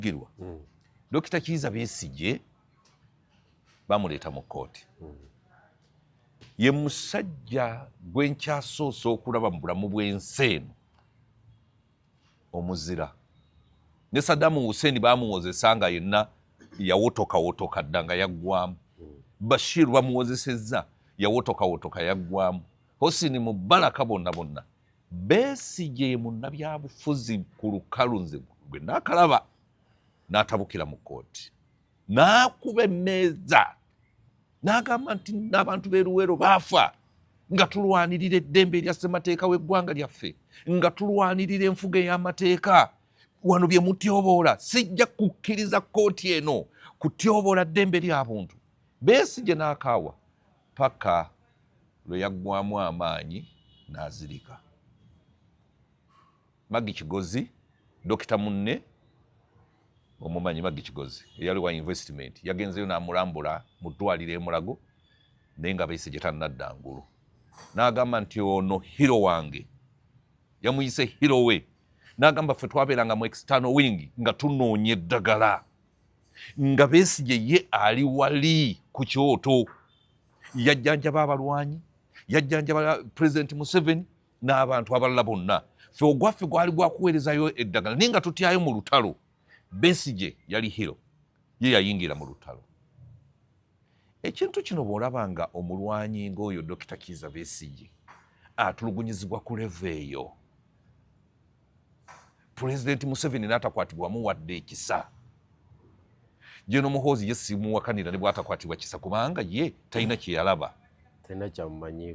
byogerwa mm. Dokita Kiiza Besigye bamuleeta mu kkooti mm. ye musajja gwe nkyasoose okulaba mu bulamu bw'ensi eno omuzira ne Saddamu Hussein bamuwozesa nga yenna yawotokawotoka dda nga yaggwamu mm. Bashir bamuwozesezza yawotokawotoka yaggwamu Hosini Mubaraka bonna bonna Besigye ye munnabyabufuzi ku lukalu nze gwe nakalaba n'atabukira mu kkooti n'akuba emmeeza n'agamba nti n'abantu b'e Luweero baafa nga tulwanirira eddembe erya ssemateeka w'eggwanga lyaffe nga tulwanirira enfuga ey'amateeka wano bye mutyoboola sijja kukkiriza kkooti eno kutyoboola ddembe lya buntu Besigye n'akaawa paka lwe yaggwamu amaanyi n'azirika. Maggie Kigozi, dokita munne omumanyi Maggie Kigozi eyali wa investment yagenzeyo n'amulambula mu ddwaliro e Mulago naye nga Besigye tannadda ngulu n'agamba nti ono hiro wange yamuyise hiro we n'agamba ffe twabeeranga mu external wing nga tunoonya eddagala nga Besigye ye ali wali ku kyoto yajjanjaba abalwanyi yajjanjaba pulezidenti museveni n'abantu abalala bonna fe ogwaffe gwali gwakuweerezayo eddagala naye nga tutyayo mu lutalo besigye yali hiro ye yayingira mu lutalo ekintu kino bw'olaba nga omulwanyi ng'oyo dokita kiiza besigye atulugunyizibwa ku levo eyo pulezidenti museveni n'atakwatibwa wamuwadde ekisa jeno muhoozi ye simuwakanira ne bwatakwatibwa kisa kubanga ye talina kyeyalaba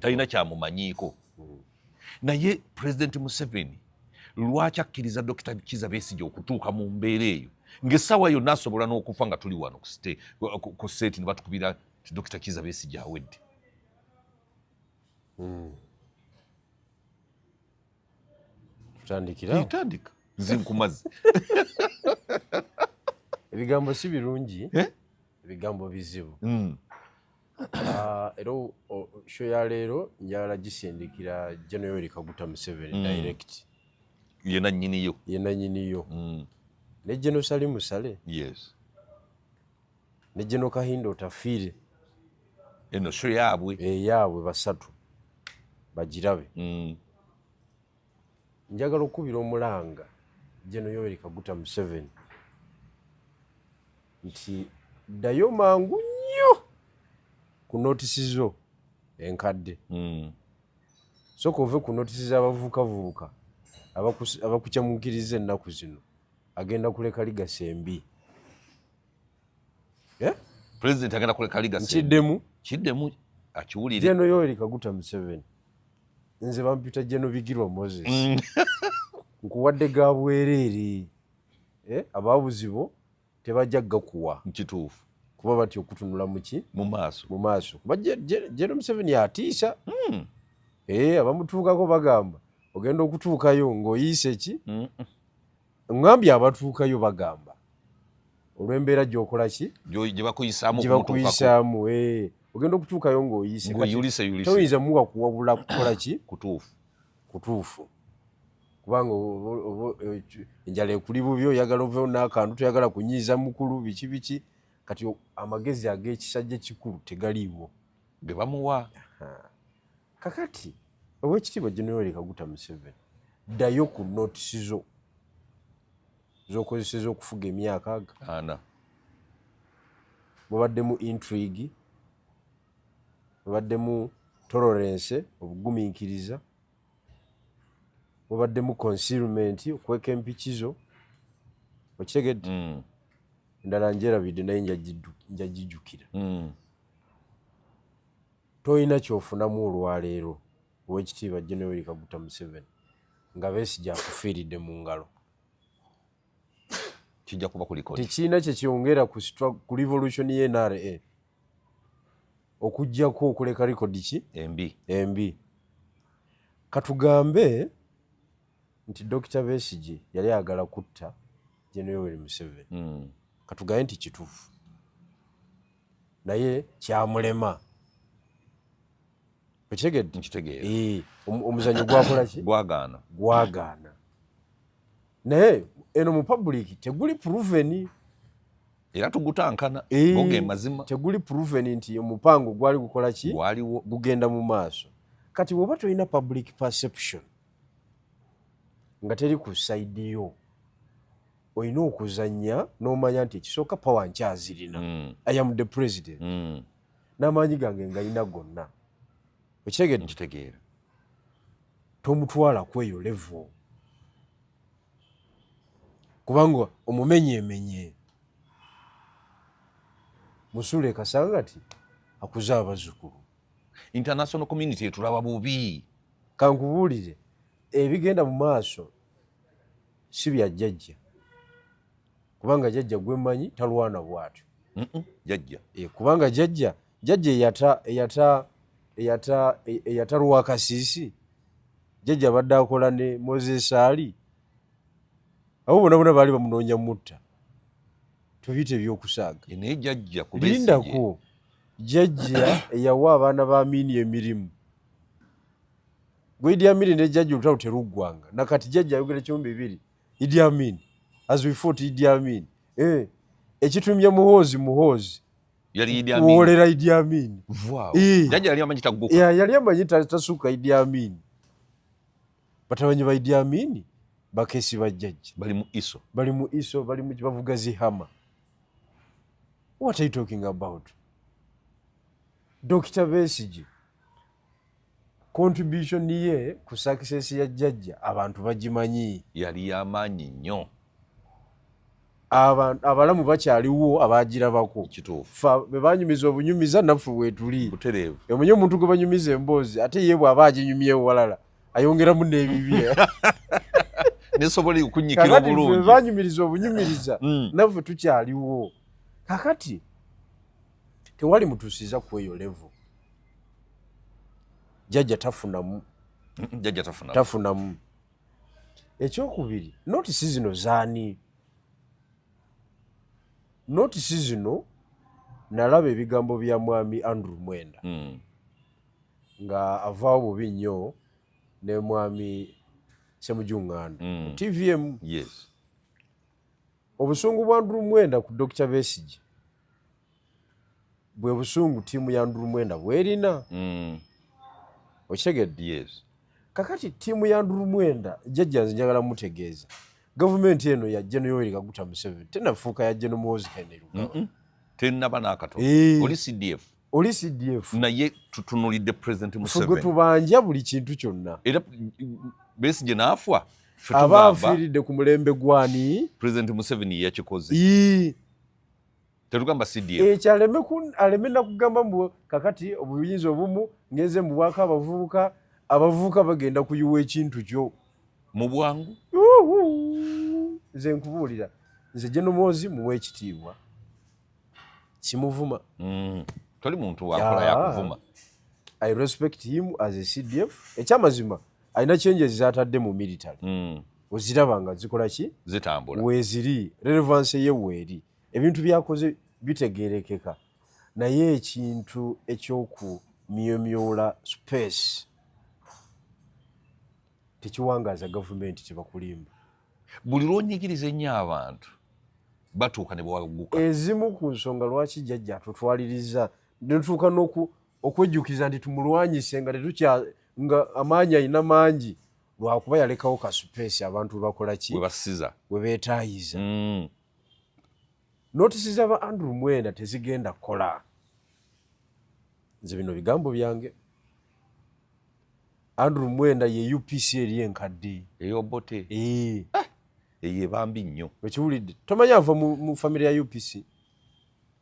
talina kyamumanyiiko hmm. naye pulezidenti museveni lwaki akkiriza dokita kiza besigye okutuuka mu mbeera eyo ngaessaawa yonna asobola n'okufa nga tuli wano ku seeti ne batukubira ti dokita kiza besigye awedde hmm. tutandikira tutandika zinkumazi ebigambo si birungi eh? ebigambo bizibu mm. ah, era sho ya leero njala gisindikira jenoyori kaguta museveni mm. direct yena nyiniyo yena nyiniyo mm. ne jenosali musale yes ne General Kahinda Otafiire eno sho yaabwe eyaabwe eh, basatu bagirabe mm. njagala okukubira omulanga Jeno Yoweri Kaguta Museveni nti ddayo mangu nnyo ku notisi zo enkadde mm. soka ove ku notisi z'abavubukavubuka abakucamukiriza ennaku zino agenda kuleka ligasi embi eh? president agenda kuleka liga kiddemu kiddemu akiwulire jeno yoeri kaguta museveni nze bampita jeno bigirwa moses mm. nkuwadde ga bwereere eh? ababuzibo tebajja gakuwa nkituufu kuba batya okutunula muki mu maaso mu maaso kuba jeno museveni atiisa mm. eh, abamutuukako bagamba ogenda okutuukayo ng'oyiise ki ŋambye abatuukayo bagamba olw'embeera gyokola ki gyebakuyisaamu eh, ogenda okutuukayo ng'oyisetoyinza muwa kuwabula kukola ki kutuufu kubanga enjala ekuli bubi oyagala ovewo n'akantu toyagala kunyiiza mukulu biki biki kati amagezi ag'ekisajja ekikulu tegaliiwo gebamuwa kakati owekitiibwa generali kaguta museveni ddayo ku notisi zo zokozeseza okufuga emyaka aga ana mubaddemu intrigue mubaddemu tolerance obugumiikiriza mubaddemu concealment okweka empiki zo okitegedde mm. endala njerabidde naye njagijukira mm. Tolina kyofunamu olwaleero owekitiibwa Gen Yoweri Kaguta Museveni nga Besigye akufiiridde mu ngalo. Kijja kuba kuliko tekirina kyekyongera ku revolution ye NRA okujjako okuleka likodi ki embi embi. Katugambe nti Dokita Besigye yali agala kutta Gen Yoweri Museveni, hmm. katugambe nti kituufu naye kyamulema okitegedde nkitegeera eh, omuzanyo gwakola ki gwagaana gwagaana naye eno mu public teguli proven era tugutankana eh, goge mazima teguli proven nti omupango gwali gukola ki gwaliwo gugenda mu maaso kati woba tolina public perception nga teri ku side yo olina okuzanya nomanya nti ekisooka power nkyazirina mm. i am the president mm. n'amaanyi gange ngalina gonna okitegedekitegeera tomutwala kweyo levo kubanga omumenyemenye musula ekasanga ti akuze abazukulu international community etulaba bubi kankubuulire ebigenda mu maaso si bya jjajja kubanga jjajja gwe mmanyi talwana bwatyo jjajja eh, kubanga jjajja jjajja eyata eyata eyata e, eyata lwakasiisi jjajja abadde akola ne moses ali abo bona bona baali bamunoonya mutta tubiyita ebyokusaaga eh, naye jjajja lindako jjajja eyawa abaana ba miini emirimu Gwe Idi Amin ne jajja olutalo teruggwanga. Na kati jajja ayogera kimu bibiri. Idi Amin. As we fought Idi Amin. Eh. Ekitumye muhoozi muhoozi. Yali Idi Amin. Kuwolera Idi Amin. Wow. Eh. Jajja yali amanyi taguka. Yeah, yali amanyi tasuka Idi Amin. Batabanyi ba Idi Amin bakesi ba jajja. Bali mu iso. Bali mu iso, bali mu bavuga zihama. What are you talking about? Dr. Besigye. contribution ye ku success ya jajja abantu bagimanyi yali yamaanyi nnyo abalamu bakyaliwo abagirabako bebanyumiza obunyumiza naffe wetuli omanyi omuntu gwe banyumiza emboozi ate ye bwaba aginyumyewo walala ayongeramu n'ebibi nesobola okunyikira obulungi banyumiriza obunyumiriza mm. naffe tukyaliwo kakati tewali mutusiza kweyo level jajja tafunamu jajja tafunamu tafunamu ekyokubiri notisi zino zaani notisi zino nalaba ebigambo bya mwami andrew mwenda mm. nga avaawo bubi nnyo ne mwami semujunganda mm. tvm yes. obusungu bwa andrew mwenda ku dr besigi bwe busungu ttiimu ya ndulumwenda bwerina mm. okitegedde yes. kakati ttiimu ya ndulumwenda jjajja nze njagala mutegeeza gavumenti eno ya jeno yoweri kaguta museveni tenafuuka ya jeno muwozi henry lugaba tenaba nakatono eh. oli cdf oli cdf naye tutunulidde president museveni tubanja buli kintu kyonna era besi gye naafwa abaafiiridde ku mulembe gwani president museveni yakikoze tetugamba cdf ekyo eh, aleme aleme nakugamba mbu kakati obuyinza obumu ngenze mu bwaka abavubuka abavubuka bagenda kuyiwa ekintu kyo mu bwangu nze nkubuulira nze jenomwozi muwa ekitiibwa kimuvuma mm. toli muntu wakola yakuvuma i respect him as a cdf ekyamazima yeah. alina changes zatadde mu military mm. oziraba nga zikola ki zitambula weziri relevance ye weeri ebintu byakoze bitegerekeka naye ekintu ekyokumyomyola space tekiwangaaza gavumenti tebakulimba buli lwonyigiriza ennyo abantu batuuka ne bwaguka ezimu ku nsonga lwaki jjajja atutwaliriza netuuka okwejjukiza nti tumulwanyise nga tetukya nga amaanyi alina mangi lwakuba yalekawo kasupeesi abantu webakolaki webasiza webetaayiza mm. notisi za ba andrew mwenda tezigenda kukola nze bino bigambo byange andrew mwenda ye upc eri enkadde eyobote eye bambi nnyo okiwulidde tomanya ava mu famire ya upc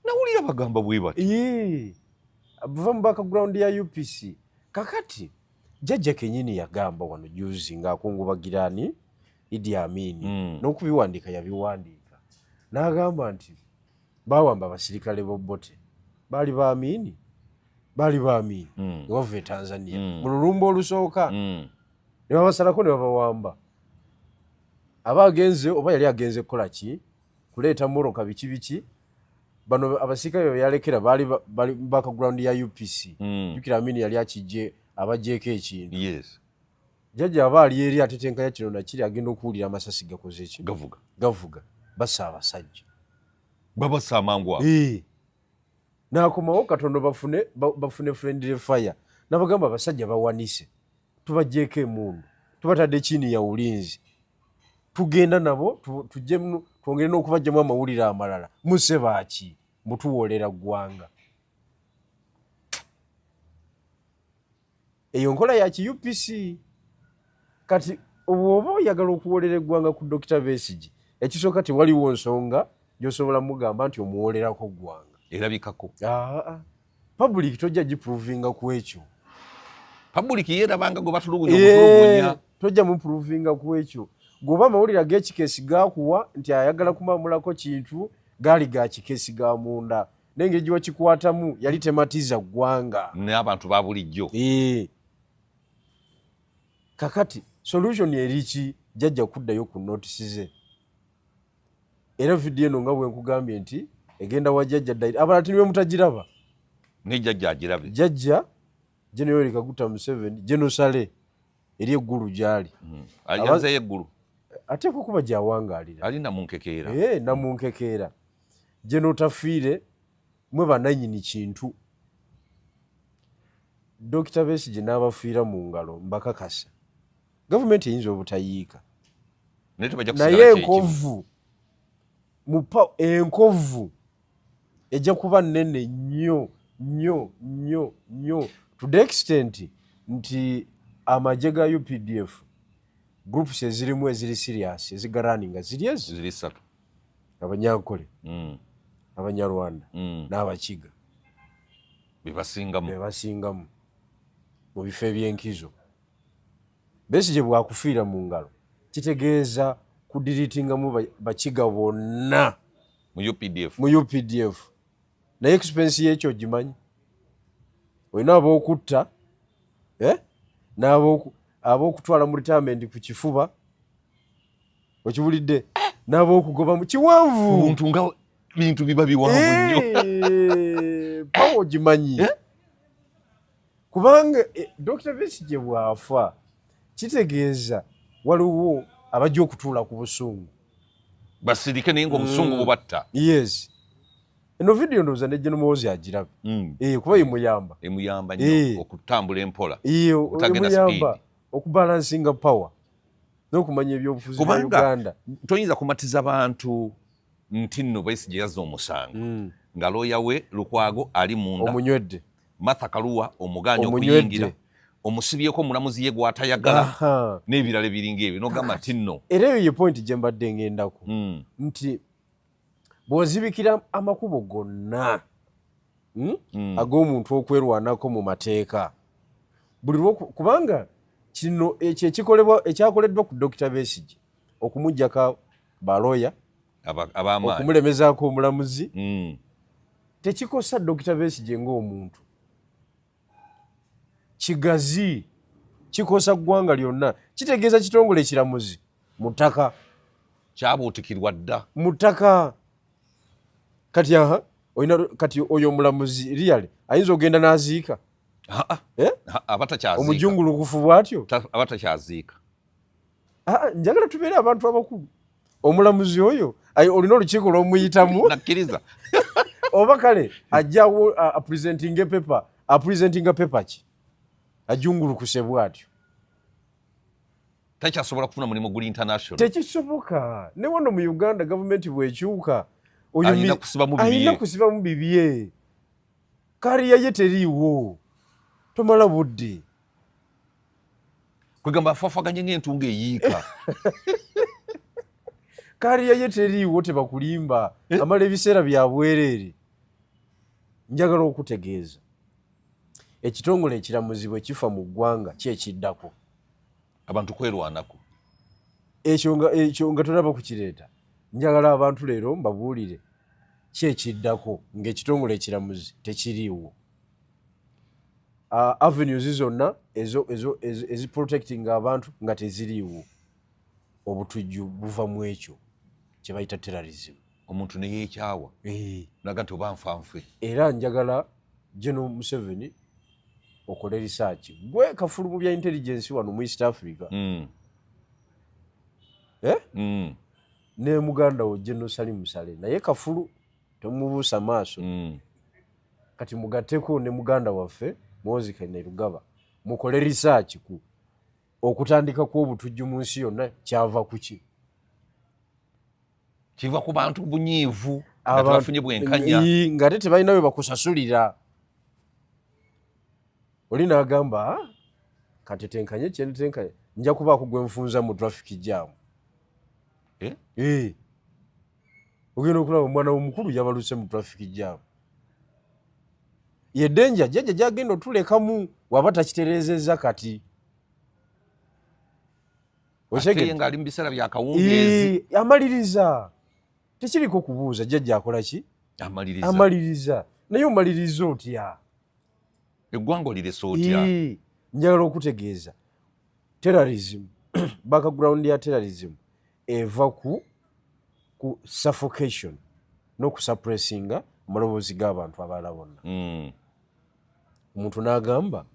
nawulira bagamba bwe bati buva mu background ya upc kakati jajja kenyini yagamba wano juzi ng'akungubagira ani idi amini mm. n'okubiwandiika yabiwandiika n'agamba nti bawamba abasirikale bobote baali ba amini baali ba amini mm. nebava e tanzania mm. mu lulumba olusooka mm. nebabasalako nebabawamba aba agenze oba yali agenze kukola ki kuleeta moroka biki biki bano abasirikale beyalekera baali bali background ya upc mm. jukira amini yali akijje abajjeeko ekintu yes. jajja aba ali eri atetenkanya kino nakiri agenda okuwulira amasasi gakoze ki gavuga gavuga basa abasajja babasa amangu awo eh. nakomawo katondo bafune bafune friendly fire nabagamba abasajja bawanise tubajjeeko emundu tubatadde chini ya ulinzi tugenda nabo tujemu twongere n'okubajjamu amawulire amalala muse baaki mutuwoolera ggwanga eyo nkola ya ki upc kati obwoba oyagala okuwoolera eggwanga ku dokita besigi ekisooka tewaliwo nsonga gyosobola mugamba nti omuwoolerako ggwanga erabikako Public tojja giprovinga ku ekyo. Public yeerabanga gwe batulugunya okutulugunya. Tojja muprovinga ku ekyo. Goba amawulire ag'ekikeesi gaakuwa nti ayagala kumamulako kintu gaali ga kikeesi ga munda. N'engeri gye wakikwatamu yali tematiza ggwanga. N'abantu ba bulijjo. Ee. Kakati solution eri ki jjajja kuddayo ku notisi ze. era vidiyo eno nga bwenkugambye nti egenda wa jajja daire abala tini bemutagiraba naye jajja agirabe jajja jeno yoweri kaguta museveni jeno sale eri eggulu gyali hmm. ayanzeyo eggulu ateekwa kuba gyawangalira ali namunkekeera eh, namunkekeera jeno tafiire mwe bananyini kintu dokita besigye n'abafiira mu ngalo mbakakasa gavumenti eyinza obutayiika naye enkovu mupa enkovu ejja kuba nene nnyo nnyo nnyo nnyo to the extent nti amagye ga updf groups ezirimu eziri serious ezigaraninga ziri ezo ziri satu abanyankole mm. abanyarwanda mm. n'abakiga bebasingamu bebasingamu mu bifo eby'enkizo Besigye bwakufiira mu ngalo kitegeeza kudiritingamu bakiga bonna mu updf mu updf naye expense yekyo ogimanyi olina abokutta eh? n'abokutwala mu retirement ku kifuba okiwulidde n'abokugobamu kiwanvu omuntu nga bintu biba biwanvu nnyo eh, pawo ogimanyi eh? kubanga eh, Dokita Besigye bw'afa kitegeeza waliwo abajja okutuula ku busungu basirike naye ngaobusungu mm. bubatta yes eno vidiyo ndowooza ne Gen Muhoozi agiraba mm. eh, kuba emuyamba emuyamba nyo eh. okutambula empola emuyamba okubalansinga power n'okumanya ebyobufuzi bya Uganda toyinza kumatiza bantu nti nno Besigye yazza omusango mm. nga looya we Lukwago ali munda omunywedde Martha Kaluwa omugaanya okuyingira omusibyeko omulamuzi ye gwatayagala n'ebirala ebiringa ebyo nogamba nti nno era eyo ye pointi gye mbadde ngendako mm. nti bw'ozibikira amakubo gonna hmm, hmm. ag'omuntu okwerwanako mu mateeka buli kubanga kino ekyo ekikolebwa ekyakoleddwa ku dokita besigye okumugjako baloya okumulemezaako omulamuzi mm. tekikosa dokita besigye ngaomuntu kigazi kikosa ggwanga lyonna kitegeeza kitongole ekiramuzi mu ttaka kyabuutikirwa dda mu ttaka kati aha olina kati oyo omulamuzi riyaly ayinza okugenda n'aziika eh? abatakyaziika omujungulukufu bwatyo abatakyaziika ah, njagala tubeere abantu abakulu omulamuzi oyo olina olukiiko lwomuyitamu nakkiriza oba kale ajjawo apresentinga epepa apresentinga pepa ki ajungulukuse bwatyo takyasobola kufuna mulimu guli international tekisoboka ne wano mu uganda gavumenti bwekyuka alina kusibamu bibye kariya ye teriiwo tomala budde kwegamba afafaganye ng'entunga eyiika kariya ye teriiwo tebakulimba eh? amala ebiseera bya bwereere njagala okutegeeza ekitongole ekiramuzi bwe kifa mu ggwanga kyekiddako abantu kwerwanako ekyo nga ekyo nga tulaba ku kireeta njagala abantu leero mbabuulire kyekiddako ng'ekitongole ekiramuzi tekiriiwo uh, avenues zonna eziprotectinga abantu nga teziriiwo obutujju buva mu ekyo kye bayita terrorism omuntu neyekyawa eh. naga nti oba nfanfe era njagala geno museveni okole risaaki gwe kafulu mu bya intelligence wano mu east africa mm. eh? mm. ne muganda wo geno salimusale naye kafulu temubuusa maaso mm. kati mugateko ne muganda waffe Moses Kainerugaba mukole research ku okutandika kw'obutujju mu nsi yonna kyava ku ki kiva ku bantu bunyiivu abafunye bwenkanya nga ate tebalina we bakusasulira oli n'agamba ah, katetenkanye kyentetenkanye nja kubaako gwe nfunza mu traffic jam eh? Eh. ogenda okulaba omwana womukulu yabaluse mu traffic jam yedenja jajja jagenda otulekamu waba takiterezeza kati amaliriza tekiriko kubuuza jajja akola ki amaliriza naye omaliriza otya eggwanga oliresa otya njagala okutegeeza terrorism background ya terrorism eva ku ku suffocation n'okusuppressinga amaloboozi g'abantu abalala bonna mm. omuntu n'agamba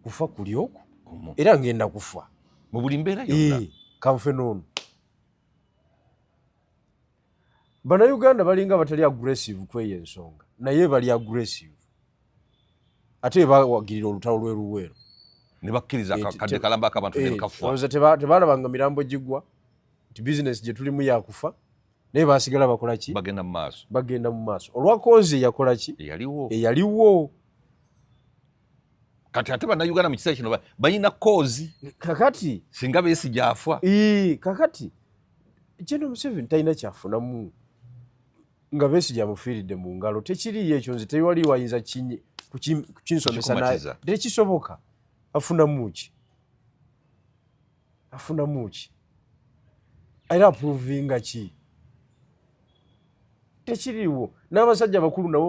kufa kuli oku era ngenda kufa mu buli mbeera yonna eh, kanfe n'ono bannayuganda balinga batali aggressive kweyo ensonga naye bali aggressive ate bebawagirira olutalo lweluweero nebakkiriza eh, kadde kalamba akabantu eh, nekafuaoza tebalabanga mirambo gigwa nti bizinesi gyetulimu yakufa naye basigala bakolaki bagenda mu maaso bagenda mu maaso olwakonzi eyakolaki eyaliwo eyaliwo kati ate bannayuganda mu kiseera kino balina koozi kakati singa besi gyafa kakati kyeno museveni talina kyafunamu nga Besigye amufiiridde mu ngalo tekiriyo ekyo nze tewali wayinza kukinsomesa naye tekisoboka afunamu ki afunamu ki era apuruvinga ki tekiriwo n'abasajja abakulu nabo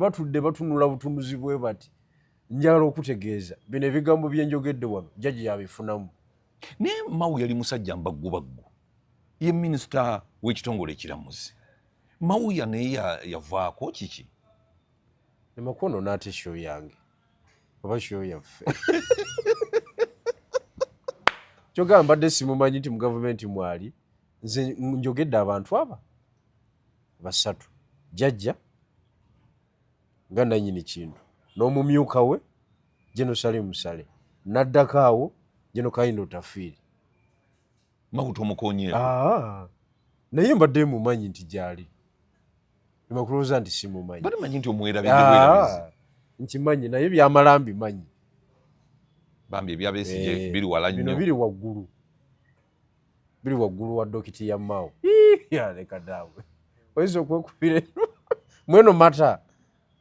batudde batunula butunuzi bwe bati njagala okutegeeza bino ebigambo byenjogedde wano jjaji yabifunamu naye mawu yali musajja mbaggubaggu ye minisita w'ekitongole ekiramuzi mawuya naye yavaako kiki emakono naate sho yange oba sho yaffe kyogamba mbadde simumanyi nti mu gavumenti mwali nze njogedde abantu aba basatu jajja nga nanyini kintu n'omumyuka we jeno sale musale naddako awo jeno kayina otafiiri makuta omukonyeeko ah, naye mbadde mumanyi nti gyali nemakulowooza nti simumanyi bade manyi nti omwerabidewerabizi ah, nkimanyi naye byamala mbimanyi bambi ebyabesije eh, biri wala nnyo biri waggulu biri waggulu wa dokiti ya mao leka daawe oyinza okwekubira mweno mata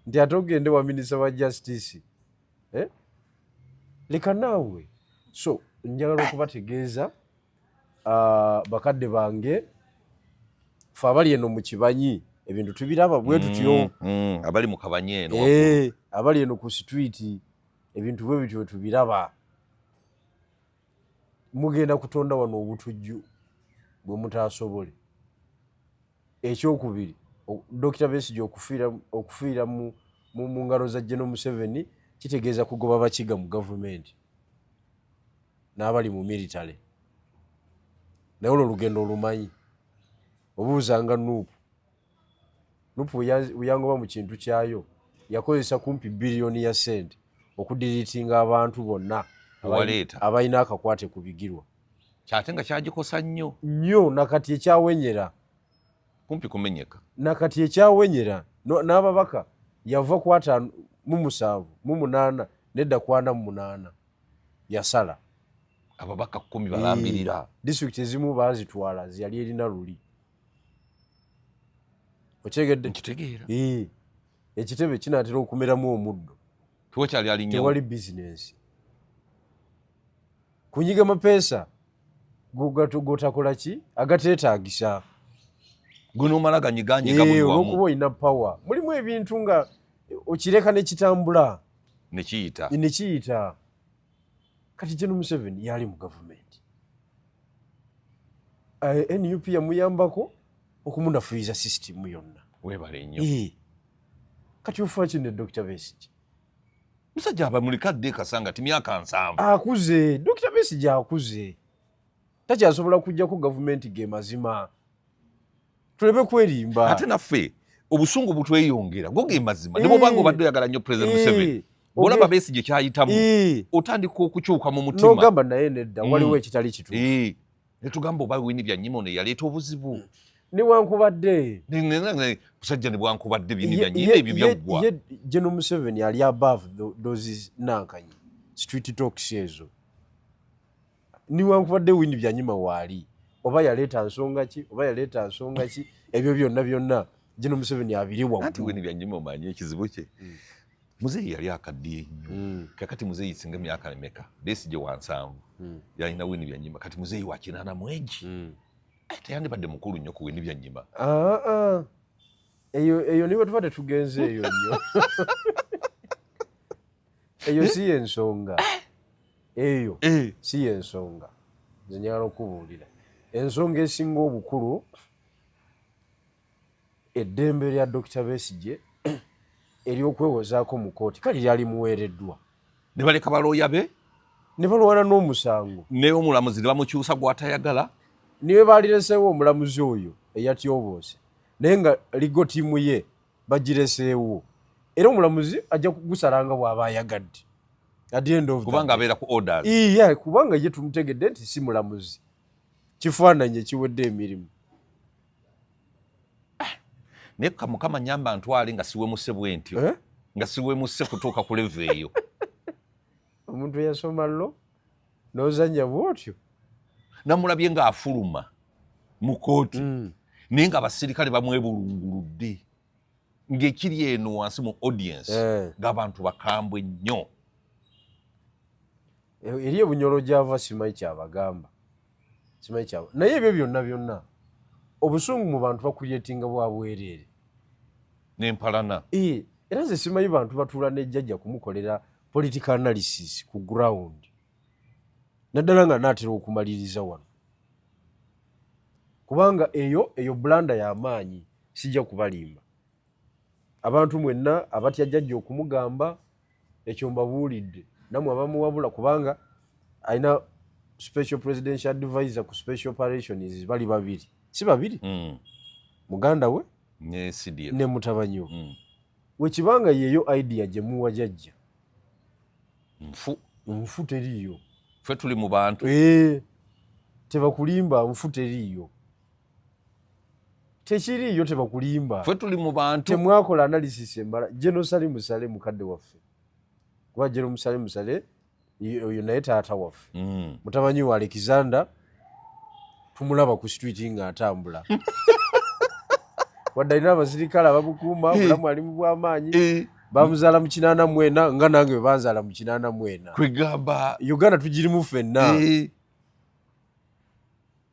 nti ate ogende wa minisita wa justice eh? leka naawe so njagala okubategeeza uh, bakadde bange fe abali eno mu kibanyi ebintu tubiraba bwe tutyo mm, mm, abali mu kabanyi eno eh, abali eno ku situiti ebintu bwe bityo tubiraba mugenda kutonda wano obutujju bwe mutaasobole ekyokubiri dokita besigye okufiira mu ngalo za geno museveni kitegeeza kugoba bakiga mu gavumenti n'abali mu militale naye olwo olugendo olumanyi obuuzanga nuupu nuupu weyangoba mu kintu kyayo yakozesa kumpi biliyoni ya sente okudiriitinga abantu bonna abalina akakwate ku bigirwa kyate nga kyagikosa nnyo nnyo nakati ekyawenyera kumpi kumenyeka nakati ekyawenyera n'ababaka yava ku ataano mu musanvu mu munaana nedda ku ana mu munaana yasala ababaka kumi balambirira disitulikiti ezimu baazitwala zeyali erina luli okyegedde nkitegeera ekitebe kinaatera okumeramu omuddo tewakyali alinyo tewali bizinensi kunyiga mapeesa gotakola ki agateetagisa gunomala ganyiganyigaolwokuba olina power mulimu ebintu nga okireka nekitambula nekiyita nekiyita kati geno museveni yali mu gavumenti eh, nup yamuyambako okumunafuyiza sisitimu yonna webale nnyo kati ofa kino dr besiki musajja aba mulika dde kasanga ti myaka nsanvu akuze dokita besigye akuze takyasobola kujjako gavumenti ge mazima tulebe kwerimba ate naffe obusungu butweyongera go ge mazima ne bwobanga eh. obadde oyagala nnyo president eh. museveni bwolaba besi gye kyayitamu eh. otandika okukyuka mu mutima nogamba naye nedda waliwo mm. ekitali kituufu netugamba oba wini byanyima ono eyaleeta obuzibu hmm. newankubadde musajja nebwankubadde bini byanyima ebyo byaggwa geno museveni ali above those nankanyi street talks ezo newankubadde wini byanyima waali oba yaleeta nsonga ki oba yaleeta nsonga ki ebyo byonna byonna geno museveni abiri waggwa anti wini byanyima omanyi ekizibu kye hmm. muzeeyi yali akaddiye nnyo mm. kakati muzeeyi singa myaka emeka besigye wa nsanvu mm. yalina wini byanyima kati muzeeyi wa kinaana mwegi mm. eh, teyandibadde mukulu nnyo ku wini byanyima ah, ah. eyo eyo niwe tuba tetugenze eyo nnyo eyo si yensonga eh. eyo eh. si yensonga nze nyala okubuulira ensonga esinga obukulu eddembe lya Dokita Besigye ery'okwewozaako mu kooti kale lyali muweereddwa ne baleka balooya be ne balwana n'omusango naye omulamuzi ne bamukyusa gw'atayagala niwe baalireseewo omulamuzi oyo eyatyoboose naye nga ligo tiimu ye bagireseewo era omulamuzi ajja kugusalanga bw'aba ayagadde kubanga abeera ku orders iya kubanga ye tumutegedde nti si mulamuzi kifaananyi ekiwedde emirimu ah, naye mukama nyamba ntwale nga siwemuse bwentyo eh? nga siwemuse kutuuka ku leve eyo omuntu eyasoma lo nozanya bwotyo namulabye ngaafuluma mu kooti mm. naye nga abasirikale bamwebulunguludde ngekiri eno wansi mu audience eh. ng'abantu bakambwe nnyo Eh, eri ebunyolo gyava simanyi kyabagamba simanyi kyaba naye ebyo byonna byonna obusungu mu bantu bakulyetinga bwa bwereere nempalana ee eh, era nze simanyi bantu batuula nejjajja kumukolera political analysis ku ground naddala nga naatera okumaliriza wano kubanga eyo eyo bulanda y'amaanyi sijja kubalimba abantu mwenna abatya jajja okumugamba ekyo mbabuulidde namwe abamuwabula kubanga alina special presidential advisor ku special operations bali babiri si babiri mm. muganda we ne mutabanyi we mm. wekibanga yeyo idea gyemuwa jajja nfu nfu teriiyo fe tuli mu bantu eh, tebakulimba nfu teriiyo tekiriiyo tebakulimba fe tuli mu bantu temwakola analysis embala jenosali musale mukadde waffe kuba jeno musale musale oyo naye taata waffe mm. mutamanyi wa alexander tumulaba ku street nga atambula wadde alina abasirikale abamukuuma obulamu ali mu bwamaanyi bamuzaala mu kinaana mwena nga nange webanzaala mu kinaana mwena kwegamba uganda tugirimu fenna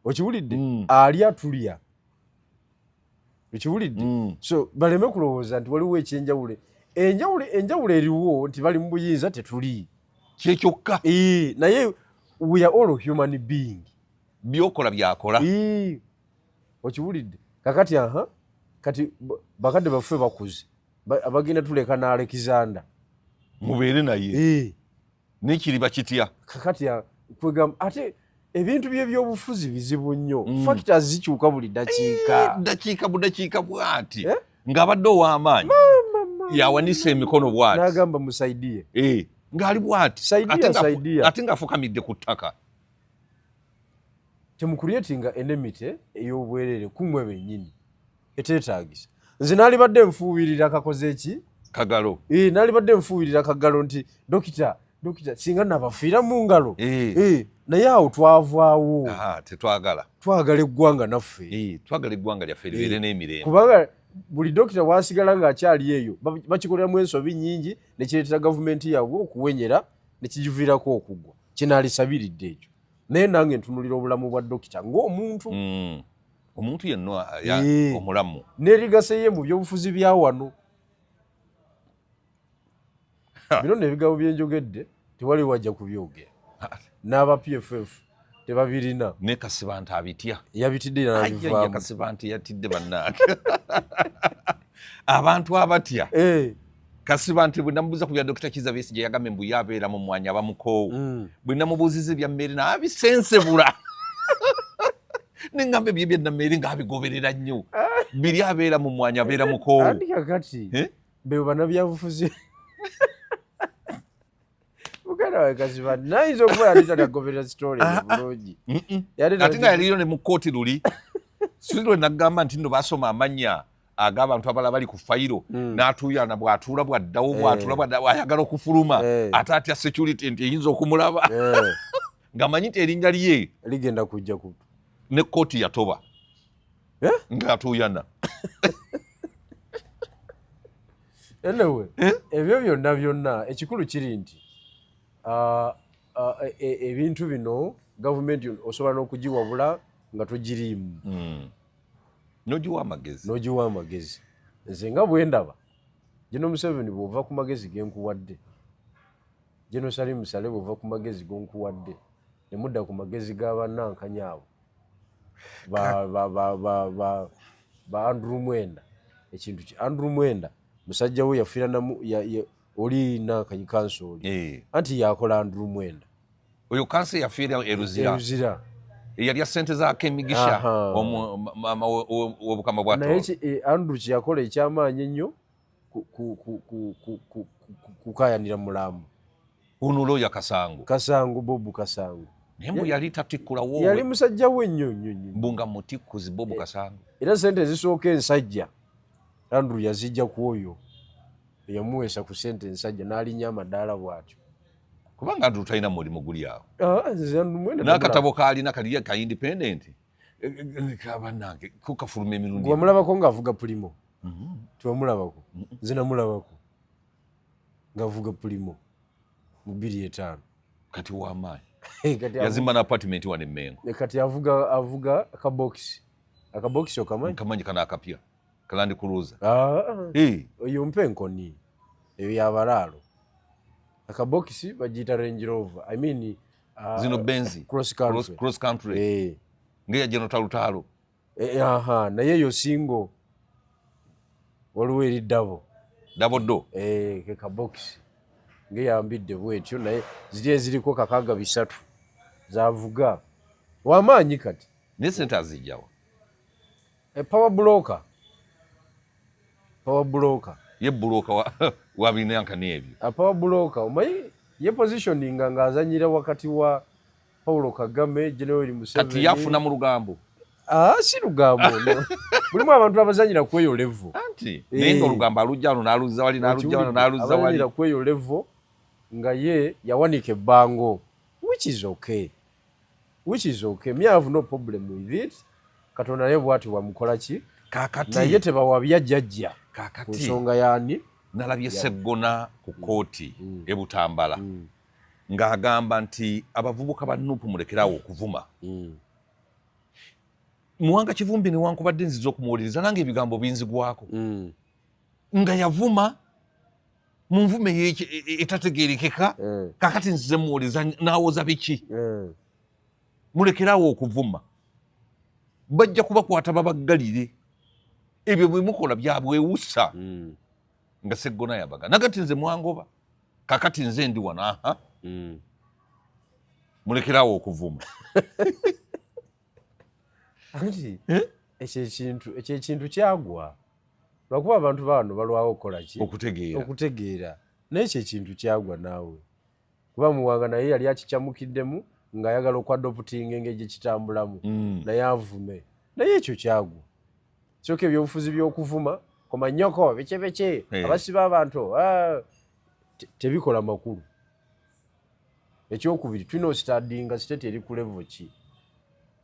okiwulidde mm. alya tulya okiwulidde mm. so baleme kulowooza nti waliwo ekyenjawulo enjawulo enjawulo eriwo nti bali mu buyinza tetuli kyekyokka naye we are all human being byokola byakola okiwulidde kakati aha kati bakadde baffe bakuze abagenda tuleka n'alekizanda mubeere naye naye kiriba kitya kakati kwegamba ate ebintu byebyobufuzi bizibu nnyo mm. fakita zikyuka buli dakiika eh, dakiika budakiika bwati eh? ng'abadde ow'amaanyi yawanisa emikono bwati nagamba musaidiye eh, ng'ali bwati ate ng'afukamidde ku ttaka temukuryetinga enemite ey'obwerere kumwe bennyini eteetaagisa nze naalibadde nfuubirira kakoze eki kagalo ee naalibadde nfuubirira kagalo nti dokita dokita singa nabafiira mu ngalo ee naye awo twavaawo tetwagala twagala eggwanga naffe twagala eggwanga lyaffe libeere n'emirembe kubanga buli dokita wasigala ng'akyali eyo bakikoleramu ensobi nyingi nekireetera gavumenti yaabwe okuwenyera nekigiviirako okuggwa kyenaalisabiridde ekyo naye nange ntunulira obulamu bwa dokita ng'omuntu mm. omuntu yenna eh. omulamu nerigaseye mu byobufuzi bya wano bino nebigabo byenjogedde tewali wajja kubyogera n'aba pff tebabirina ne kasibante abitya yabitidde nabivaamu kasibante yatidde bannaake abantu abatya eh. Kasibante bwe namubuuza ku bya Dokita Kizza Besigye yagambye mbu ye abeera mu mwanya abamukoowu mm. bwe namubuuziza ebya mmeeri naabisensebula ne ngamba ebyo ebya nammeeri ng'abigoberera nnyo biri abeera mu mwanya abeera mukoowu eh? bebo banabyabufuzi muganda wawe kaziba nayinza okuba yali tanagoberera sitole ah, ah. bulungi ate nga yaliyo ne mu kkooti luli sirwe nagamba nti no basoma amanya ag'abantu abala bali ku fayiro hmm. n'atuuyana bw'atuula bw'addawo eh. bw'atuula bw'addawo ayagala okufuluma eh. ate atya security nti eyinza okumulaba eh. ng'amanyi nti erinnya lye ligenda kujja ku ne kkooti yatoba ng'atuuyana anyway eh? ebyo byonna byonna ekikulu kiri nti ah, ah, e, e, ebintu bino gavumenti osobola n'okugiwabula nga togiriimu hmm. nogiwa amagezi nogiwa amagezi nze nga bwendaba gino museveni bwova ku magezi genkuwadde gino sali musale bwova ku magezi gonkuwadde ne mudda ku magezi ga bannankanya abo ba andrew mwenda ekintu ki andrew mwenda musajja we yafiira namu oli nankanyi kansi oli eh. anti yakola andrew mwenda oyo kansi yafiira eruzira eyalya sente za kemigisha obukama bwanaye eh, andrew kyeyakola ekyamaanyi ennyo kukayanira mulamu ono loya kasango kasango bobu kasango naye mbu yali tatikkulawo yali musajja we nnyo nnyo nnyo mbu nga mutikkuzi bobu eh, kasango era sente ezisooka ensajja andrew yazijja ku oyo eyamuweesa ku sente ensajja n'alinnya amadaala bw'atyo kubanga andrew talina mulimu guli awo ah, n'akatabo kaalina kali ka independenti kabanange kukafuluma emirundi wamulabako ngaavuga pulimo mm-hmm. tiwamulabako mm-hmm. nze namulabako ngaavuga pulimo mu bbiri etaano kati wamaanyi yazimba na apartment wano emengo eh, kati avuga avuga akabokisi akabokisi okamanyi kamanyi kana akapya kalandi kuluza ah. eh. oyo mpe enkoni eyo yabalaalo akabokisi bagiyita range rover i mean ah, zino benzi cross country, cross country. Hey. Eh. ngeya jeno talutalo eh, eh, aha naye yo singo waliwo eri dabo dabo do eh, ke kabokisi ngeyambidde bwetyo naye ziri eziriko kakaga bisatu zavuga wamaanyi kati naye sente azijjawa E power broker. Power broker. Ye broker wa wa binanka nebyo. A power broker. Omayi ye positioning nga azanyira wakati wa Paulo Kagame, General Museveni. Kati yafuna mu lugambo. Ah, si lugambo no. Mulimu abantu abazanyira kweyo level. Anti eh. naye nga olugambo alujja wano n'aluzza wali n'alujja wano n'aluzza wali. Abazanyira kweyo level nga ye yawanika ebbango which is okay. which is okay me have no problem with it katonda naye bwati wamukola ki kakati naye tebawabya jajja kakati nsonga yani nalabye seggona ku kooti mm. mm. ebutambala mm. ng'agamba nti abavubuka ba nupu mulekerawo okuvuma mm. muwanga kivumbi newankubadde nziza okumuwuliriza nange ebigambo binzigwako mm. nga yavuma mu nvuma e, e, etategerekeka eh. kakati nzize muwoleza nawoza biki eh. mulekerawo okuvuma bajja kubakwata babaggalire ebyo bwemukola byabwewusa hmm. nga seggona yabaga nagati nze mwangoba kakati nze ndi wano aha hmm. mulekerawo okuvuma ekyo ekintu kyagwa lwakuba abantu baano balwawo okukolaki okutegeera okutegeera naye ekyo ekintu kyagwa naawe kuba muwanga naye yali akicamukiddemu ng'ayagala okwadoputinga engeri gye kitambulamu mm. naye avume naye ekyo kyagwa kyoka ebyobufuzi by'okuvuma komanyoko bekyebekye eh. abasiba abantu ah, tebikola makulu ekyokubiri tulina ositadinga siteti eri kulevo ki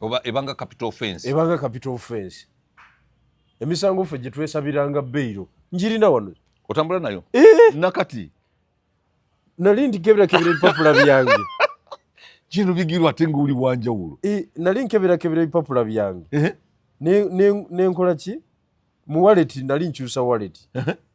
oba ebanga capital offense ebanga capital offense emisango ffe gye twesabiranga beyiro njirina wano otambula nayo eh! nakati nali ndikeberakebera ebipapula byange kino bigirwa ate ngaoli wanjawulo eh, nali nkeberakebera ebipapula byange eh? nenkola ki mu waleti nali nkyusa waleti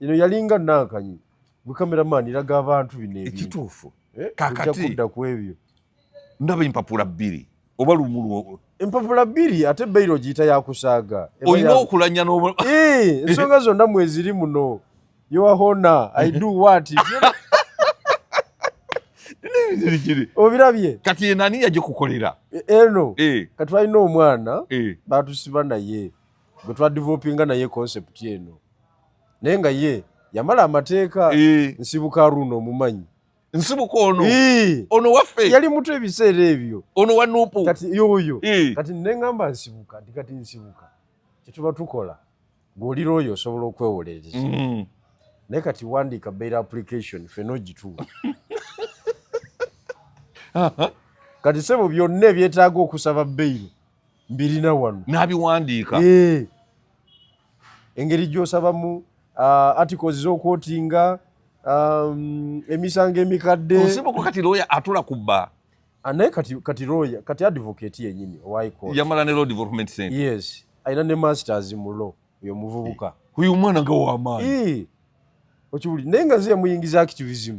ino yalinga nankanyi gwe cameraman iraga abantu bino ekituufu eh, kakati kudda ku ebyo ndaba empapula bbiri oba lumulwo empapula bbiri ate beyiro ogiyita yakusaaga olina okulanya eh, ensonga zonna mweziri muno yoahona i do what obirabye kati enani yagikukolera e, eno eh. kati balina omwana batusiba naye gwe twadivelopinga naye concept eno naye nga ye yamala amateeka eh. nsibuka aruno omumanyi nsibuka ono ono waffe yali muto ebiseera ebyo ono wa nupu kati yoyo kati nengamba nsibuka nti kati nsibuka kyetuba tukola ng'olira oyo osobola okwewolereza mm. naye kati wandiika bail application fena ogituwa kati sebo byonna ebyetaaga okusaba bail mbirina wano n'abiwandiika eh. engeri gy'osabamu uh, articles z'okwotinga um, emisango emikadde osibuko kati looya atula ku bba ah, naye kati, kati looya kati advocate yenyini owaikooti yamala ne law development center yes alina ne masters mu law oyo omuvubuka oyo omwana nga wamaanyi eh. okiwuli naye nga ziyamuyingiza activism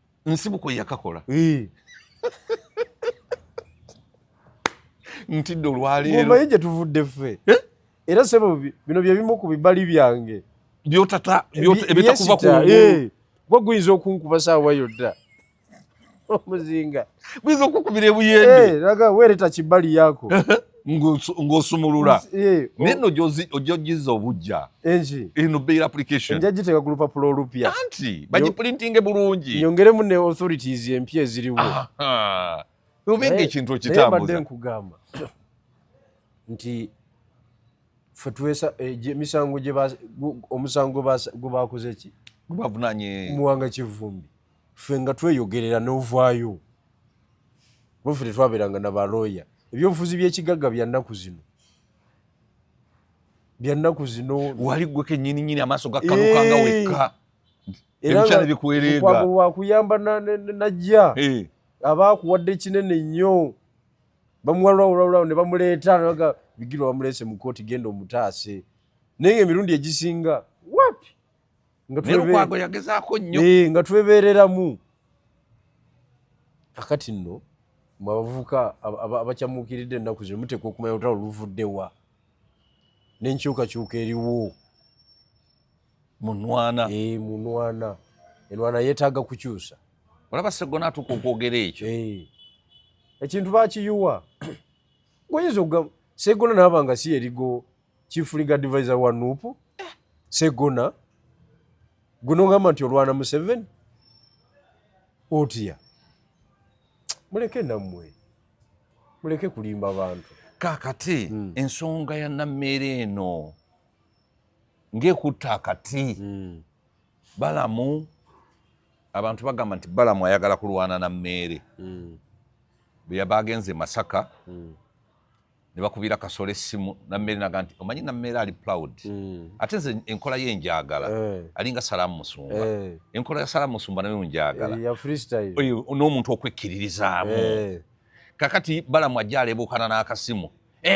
nsibuko yakakola ntidde olwaleeromanyi gye tuvudde ffe eh? era sebo bino bye bimu ku bibali byange byotata ebitakuva ku eh, gwe guyinza okunkuba saawa yonna omuzinga buyinza okukubira ebuyende eh, laga weereta kibbali yaako ng'osumulula eh, oh. naye no ojojizza obujja eno bail application nja giteeka ku lupapula olupya anti bagiprintinge bulungi nyongeremu ne authorities empya eziriwo obe ngaekintu okitambuza nkugamba nti fe twesa eh, emisango omusango gwebakoze ki gwebavunanye muwanga kivumbi ffe nga tweyogerera n'ovaayo kuba ffe tetwabeeranga na balooya ebyobufuzi by'ekigagga bya nnaku zino bya nnaku zino wali gwe kennyini nyini amaaso gakkanukanga eh. wekka ebikyala bikuwereega wakuyamba najja eh. aba akuwadde kinene nnyo bamuwalulawulawulawo ne bamuleeta naga bigirwa bamuleese mu kooti genda omutaase naye nga emirundi egisinga wapi nelukwago yagezaako nnyo eh, nga twebereramu akati nno mwe abavubuka abakyamuukiridde ennaku zino muteekwa okumanya olutalo luvudde wa n'enkyukakyuka eriwo munwana eh, munwana enwana yeetaaga kukyusa olaba segona atuuka okwogera ekyo eh. ekintu bakiyuwa goyinza okugamba segona naaba nga si erigo chief legal advisor wa nup segona guno ngamba nti olwana museveni otya muleke nammwe muleke kulimba abantu kakati mm. ensonga ya nammeere eno ng'ekutta akati mm. balamu abantu bagamba nti balamu ayagala kulwana na mmeere mm. bweyabagenze masaka mm. ne bakubira kasolo essimu nammeere naga nti omanyi nammeere ali proud mm. ate nze enkola ye njagala eh. alinga salaamu musumba eh. enkola ya salaamu musumba nayo njagala eh, n'omuntu okwekkiririzaamu kakati balamu ajja alebuukana n'akasimu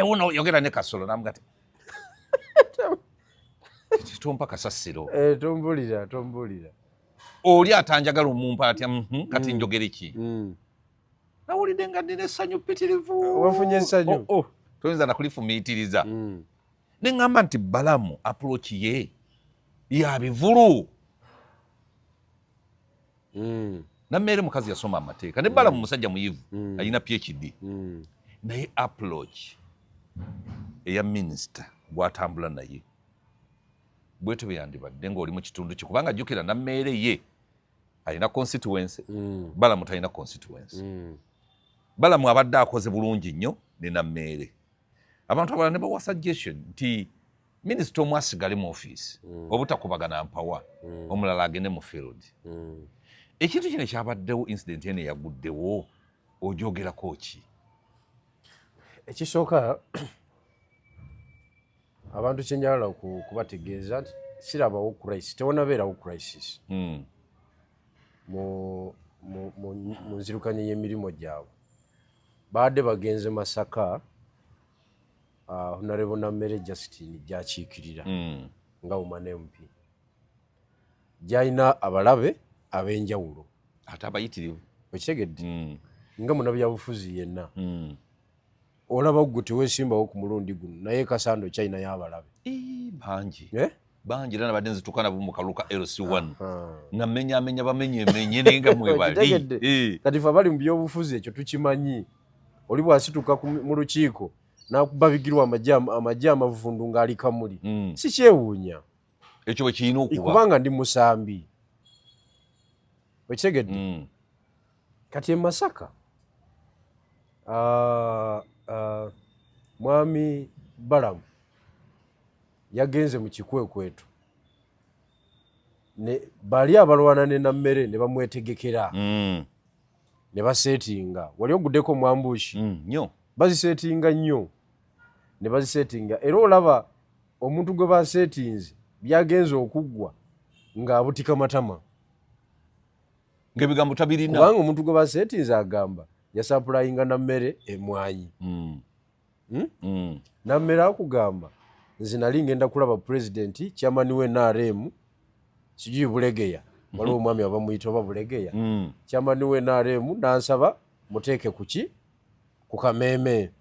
wona yogera ne kasolo namuga ti tompa kasasiro tombulira tombulira oli atanjagala omumpa atya mhm, kati mm. njogere ki mm. nawulidde nga nina essanyu pitirivu wafunye essanyu oh, oh. toyinza nakulifumiitiriza hmm. ne ŋŋamba nti balamu apuloki ye ya bivulu hmm. nammeere mukazi yasoma amateeka ne balamu hmm. musajja muyivu alina phd naye apuloki eya minisita gwatambula naye bwetyo beyandibadde ng'oli mu kitundu kye kubanga jjukira nammeere ye alina constituency mm. balamu talina constituency mm. balamu abadde akoze bulungi nnyo ne nammeere abantu abalala ne bawa suggestion nti minisita omu asigale mu ofiisi mm. obutakubagana mpawa mm. omulala agende mu field mm. ekintu kino kyabaddewo incident eno eyaguddewo ojogerako ki ekisooka abantu kyenjagala kubategeeza nti sirabawo crisis tewonabeerawo crisis hmm. mu nzirukanya y'emirimu gyabwe baadde bagenze masaka ah, honarebo nammere justin gyakiikirira hmm. nga umane mp gyalina abalabe ab'enjawulo ate abayitirivu okitegedde hmm. nga munabyabufuzi yenna olaba gwe tewesimbawo ku mulundi guno naye kasando china yabalabe bangi eh? bangi era nabadde nzituka nabo mu kaluka lc1 nga mmenyamenya bamenyemenye naye nga mwebali eh. kati fe abali mu byobufuzi ekyo tukimanyi oli bwasituka mu lukiiko nakubabigirwa amagye amavundu ng'ali kamuli hmm. si kyewuunya ekyo bwe kirina okuba kubanga ndi musambi okitegedde hmm. kati emasaka ah, ah, mwami balamu yagenze mu kikwekweto bali abalwana ne nammere ne bamwetegekera mm. ne basetinga wali oguddeko mwambushi mm, bazisetinga nnyo ne bazisetinga era olaba omuntu gwe basetinze byagenze okuggwa ng'abutika matama ngaebigambo tabirina kubanga omuntu gwe basetinze agamba yasapulayinga na mmere emwanyi mm. Hmm? Mm. nammere akugamba nze nali ngenda kulaba pulezidenti kyamani we nrm sijuyi bulegeya mhm. waliwo omwami abamuyita oba bulegeya kyamani mm. we nrm nansaba muteeke kuki ku kameeme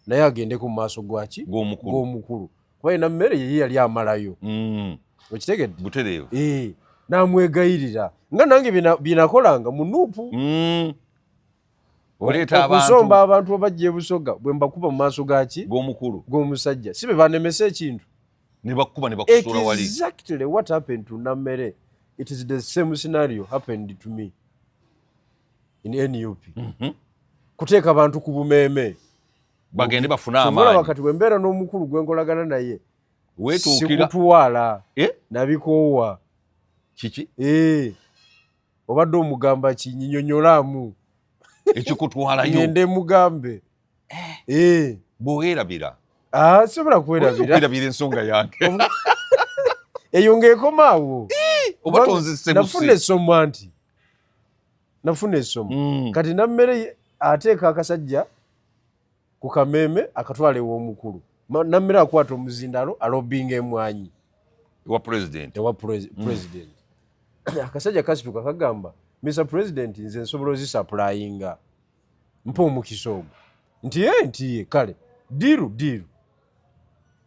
naye agendeko mu maaso gwaki gw'omukulu kuba yena mmere yeye yali amalayo mm. okitegedde butereevu eh, namwegayirira nga nange byenakolanga mu nuupu mm. okusomba abantu abajja ebusoga bwe mbakuba mu maaso gaki gw'omukulu gw'omusajja si be banemesa ekintu nebakuba nebakusula wali exactly what happened to nammere it is the same scenario happened to me in nup mm -hmm. kuteeka bantu ku bumeeme bagende bafune amaanyi kati bwe mbeera n'omukulu gwe nkolagana naye sikutwala eh? nabikoowa kiki eh. obadde omugamba ki nyinyonyolaamu ekikutwalayo ngende mugambe eh. eh. bwewerabira ah, sobola kwerabiraerabira ensonga yange eyo ngaekomaawo oba tonzisebuse nafuna essomo nti nafuna esomo mm. kati nammere ateeka akasajja ku kameeme akatwala ew'omukulu nammere akwata omuzindalo alobinga emwanyi ewa president ewa mm. president akasajja kasituka kagamba mr president nze nsobola ozisapulayinga mpa omukisa ogwo nti e nti ye kale diru diru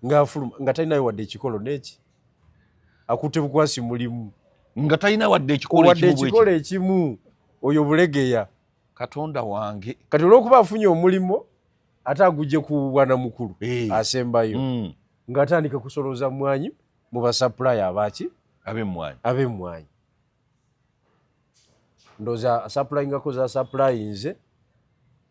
ngaafuluma nga talinayo wadde ekikolo neki akutte bukwasi mulimu nga talina wadde ekikolo ekimu oyo bulegeya katonda wange kati olwokuba afunye omulimu ate agujje ku bwana mukulu eh. asembayo mm. ngaatandika kusoloza mwanyi mu basapulayo abaki abemwanyi abemwanyi ndoza asapulingako zasapulainze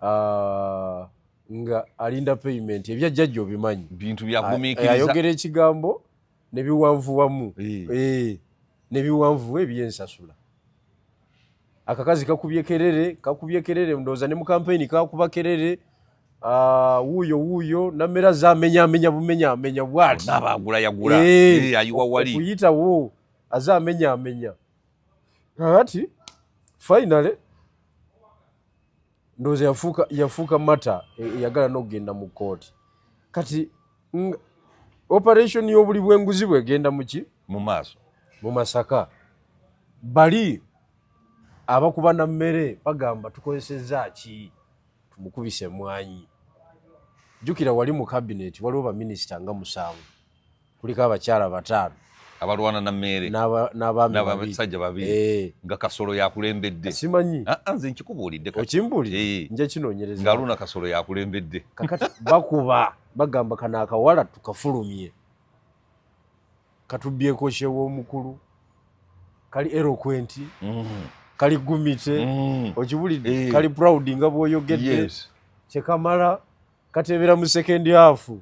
ah, nga alinda payment ebya jajja obimanyi bintu byagumikiriza ah, ayogera ekigambo nebiwanvu wamu eh. Eh, nebiwanvu ebyensasula akakazi kakubye kerere kakubye kerere ndoza ne mukampeni kakuba kerere ah, wuuyo wuuyo namera zamenya amenya bumenya amenya bwati nabagula yagula eh, ayiwa wali okuyitawo aze amenya amenya kakati finally ndoza yafuka yafuka mata e, yagala nokugenda mu kooti kati operation yobuli bwenguzi bwegenda muki mu maaso mu masaka bali abakuba na mmere bagamba tukozesezza ki tumukubise emwanyi jukira wali mu kabineti waliwo baminisita nga musanvu kuliko abakyala bataano abalwana na meere n'abasajja babiri eh. nga kasolo yakulembedde simanyi ah, ah, nze nkikubuulidde okimbuulire eh. nja kinoonyereza nga luna kasolo yakulembedde kakati bakuba bagamba kano akawala tukafulumye katubbyeko kyew'omukulu kali erokwenti mm-hmm. kali gumite mm-hmm. okibulidde eh. kali proud nga bwoyogedde kyekamala kateebera mu sekendi afu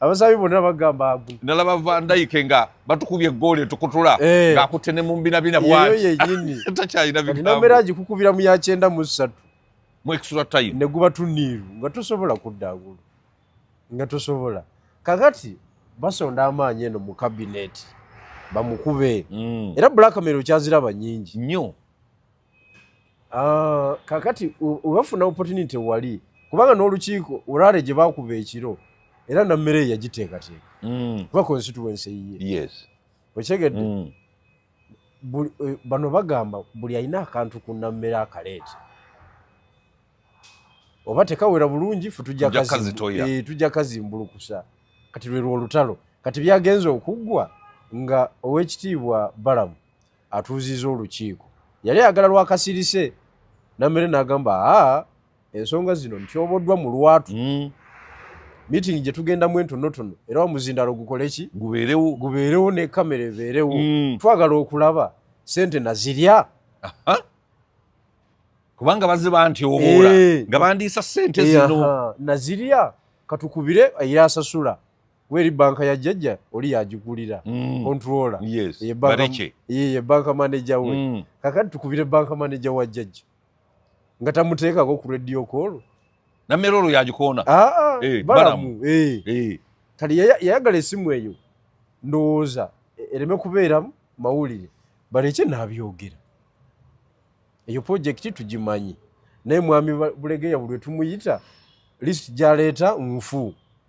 abasabi bonna bagamba agwi nalaba vandayike nga batukubye egoolo etukutula eh. ng'akutte ne mu mbinabina bwatakyalina bigambo agikukubira mu yakyenda mu ssatu mu extra time ne guba tuniiru nga tosobola kudda agulu nga tosobola kakati basonda amaanyi eno mu kabineeti bamukube mm. era blackmail okyaziraba nyingi nnyo Ah, kakati webafuna opportunity wali kubanga n'olukiiko olwale gye bakuba ekiro era nammere eyo yagiteekateeka mm. kuba constituency yiye okyegedde mm. eh, bano bagamba buli alina akantu ku nammere akaleete oba tekawera bulungi fe tujja eh, kazimbulukusa kati lwerwo olutalo kati byagenze okuggwa nga owekitiibwa balamu atuuziza olukiiko yali ayagala lwakasirise namere nagamba aa ensonga zino ntyoboddwa mu lwatu mm. meeting gye tugendamu entonotono era omuzindalo gukoleki gubeerewo gubeerewo ne kamera ebeerewo mm. twagala okulaba sente nazirya kubanga baziba nti oboola eh. nga bandiisa sente zino nazirya katukubire era asasula weri banka ya jajja oli yagigulira mm. controla yes. ye banka manager we mm. kakati tukubire banka manager wa jajja nga tamuteekako ku radio call namera olwo yagikoona ah, ah, hey, eh, balamu hey. Eh. Hey. Eh. kati yayagala esimu eyo ndowooza e, ereme kubeeramu mawulire baleke nabyogera eyo purojekiti tugimanyi naye mwami bulegeya buli wetumuyita list gyaleeta nfu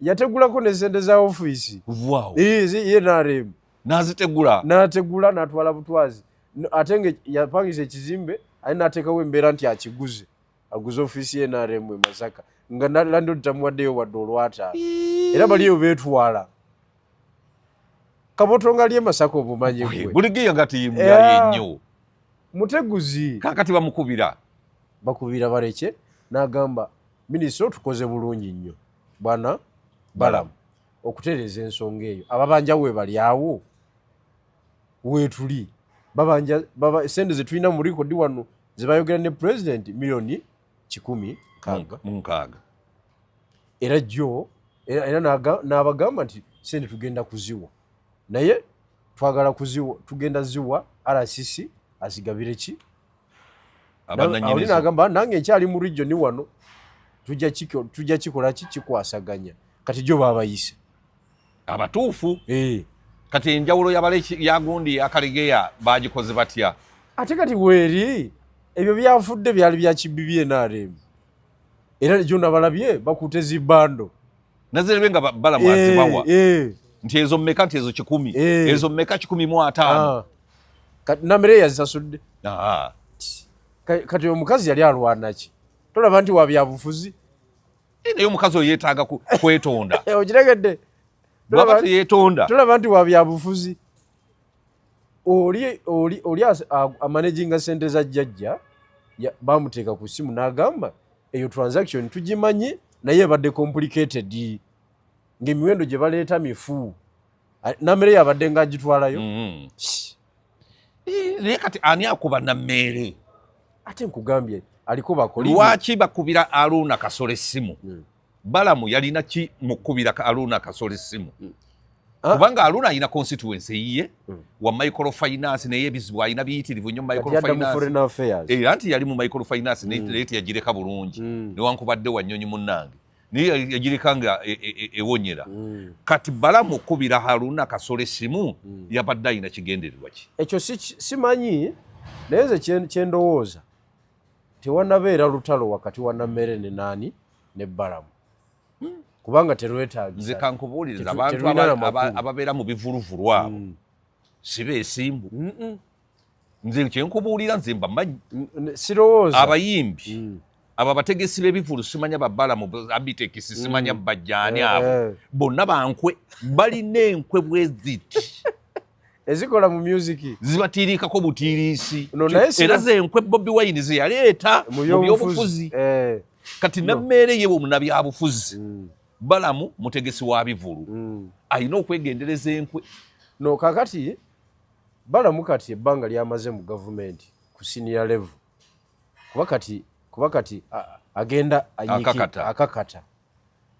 yategulako ne sente za ofiisi wow. ye nrm nazitegula nategula natwala butwazi ate nga yapangisa ekizimbe aye natekawo embeera nti akiguze aguze ofiisi ye nrm e masaka nga nalando tamuwaddeyo wadde olwataano era baliyo betwala kaboto nga lye masaka obumanyi gwe buligiya gati muyayennyo muteguzi kakati bamukubira bakubira bareke nagamba Minisita otukoze bulungi nnyo bwana Balamu okutereeza ensonga eyo ababanja webali awo wetuli babanja baba sente zetulina mu rekodi wano zebayogera ne president milioni kikumi munkaaga era jjo era n'abagamba nti sente tugenda kuziwa naye twagala kuziwa tugenda ziwa rcc azigabire ki abananyinizo agamba nange nkyali mu region wano tujja kiko tujja kikola ki kikwasaganya kati jo babayise abatuufu eh kati enjawulo yabale yagundi akalegeya bagikoze batya ate kati weri ebyo byafudde byali bya kibbi bye narem era jo nabalabye bakutezi bando nazirebe nga bala mwazibawa eh, eh. nti ezo meka nti ezo kikumi eh. ezo meka kikumi mu ataano ah. namere yazisasudde ah. kati omukazi yali alwanaki tolaba nti wabyabufuzi naye omukazi oyo yetaaga kwetonda okiregedde bwaba teyetonda tolaba nti wabyabufuzi oli oli oli amanaginga sente za jjajja bamuteeka ku simu n'agamba eyo transaction tugimanyi naye ebadde complicated ngaemiwendo gye baleeta mifu nammere yabadde nga agitwalayo mm-hmm. eh, naye kati ani akuba nammeere ate nkugambye aliko bakoli lwaki bakubira aluuna kasolo essimu hmm. balamu yalina ki mukubira ka aluna kasoli simu mm. ah. kubanga aluna alina constituency yiye mm. wa micro finance naye bizibu alina biyitirivu nyo micro finance eh anti yali mu micro finance mm. neti yajireka bulungi mm. ne wankubadde wa nyonyi munange ni yajireka nga ewonyera e, e, e mm. kati balamu kubira haruna kasole simu mm. yabadde alina kigendererwa ki ekyo simanyi naye nze kyendowooza tewanabeera lutalo wakati wa nammere ne naani ne balamu hmm. kubanga terwetagisa nze kankubuuliriza abantu ababeera mu bivuluvulu abo hmm. siba esimbu nze kyenkubuulira nze mbamanyi sirowooza abayimbi hmm. abo abategesi b'ebivulu simanya babalamu abitekisi simanya bajjaani abo eh. bonna bankwe balina enkwe bweziti ezikola mu music zibatiiriikako butiiriisi era zenkwe bobi wine zeyaleeta mu byobufuzi eh. kati nammeere ye bwomunabyabufuzi mm. balamu mutegesi wa bivulu mm. alina okwegendereza enkwe no kakati balamu kati ebbanga lyamaze mu gavumenti ku siniya levu kuba kati kuba kati agenda akakata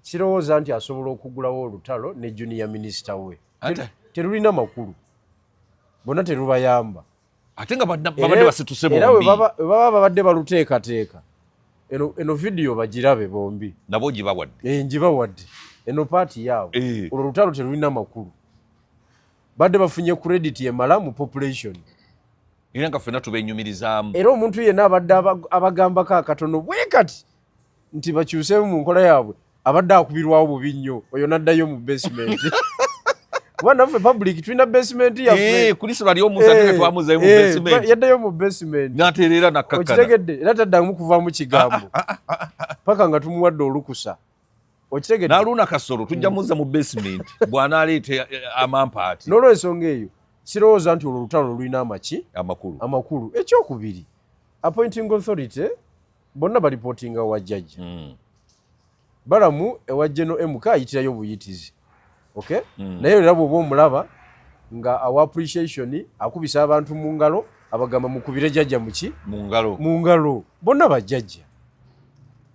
Sirowooza nti asobola okugulawo olutalo ne junior minister we. Terulina makulu. Bona terubayamba. Ate nga babadde basituse bombi. Era we baba babadde baluteekateeka. Eno, eno video bagirabe bombi. Nabo njibawadde. Eh, njibawadde. Eno paati yaabwe. Eh. Olwo olutalo terulina makulu. Badde bafunye credit emala mu population. era nga ffena tubenyumirizaamu era omuntu yenna abadde abagambako akatono bwe kati nti bakyuseemu mu nkola yaabwe abadde akubirwawo bubi nnyo oyo n'addayo mu basement kuba naffe public tulina basement yaffe eh, kulisi bali omusa twe eh, twamuzayo mu eh, basement yaddayo mu basement natereera nakkakkana okitegedde era taddamu kuvaamu kigambo ah, ah, ah, paka nga tumuwadde olukusa okitegedde naluuna kasolo tujja muzza mu basement bw'anaaleeta amampaati n'olwensonga eyo sirowooza nti olwo olutalo lulina amaki amakulu amakulu ekyokubiri appointing authority bonna balipotinga wa jajja mm. balamu ewa geno mk ayitirayo obuyitizi okay mm. naye era bwoba omulaba nga awa appreciation akubisa abantu mu ngalo abagamba mukubire jajja muki mu ngalo bonna bajajja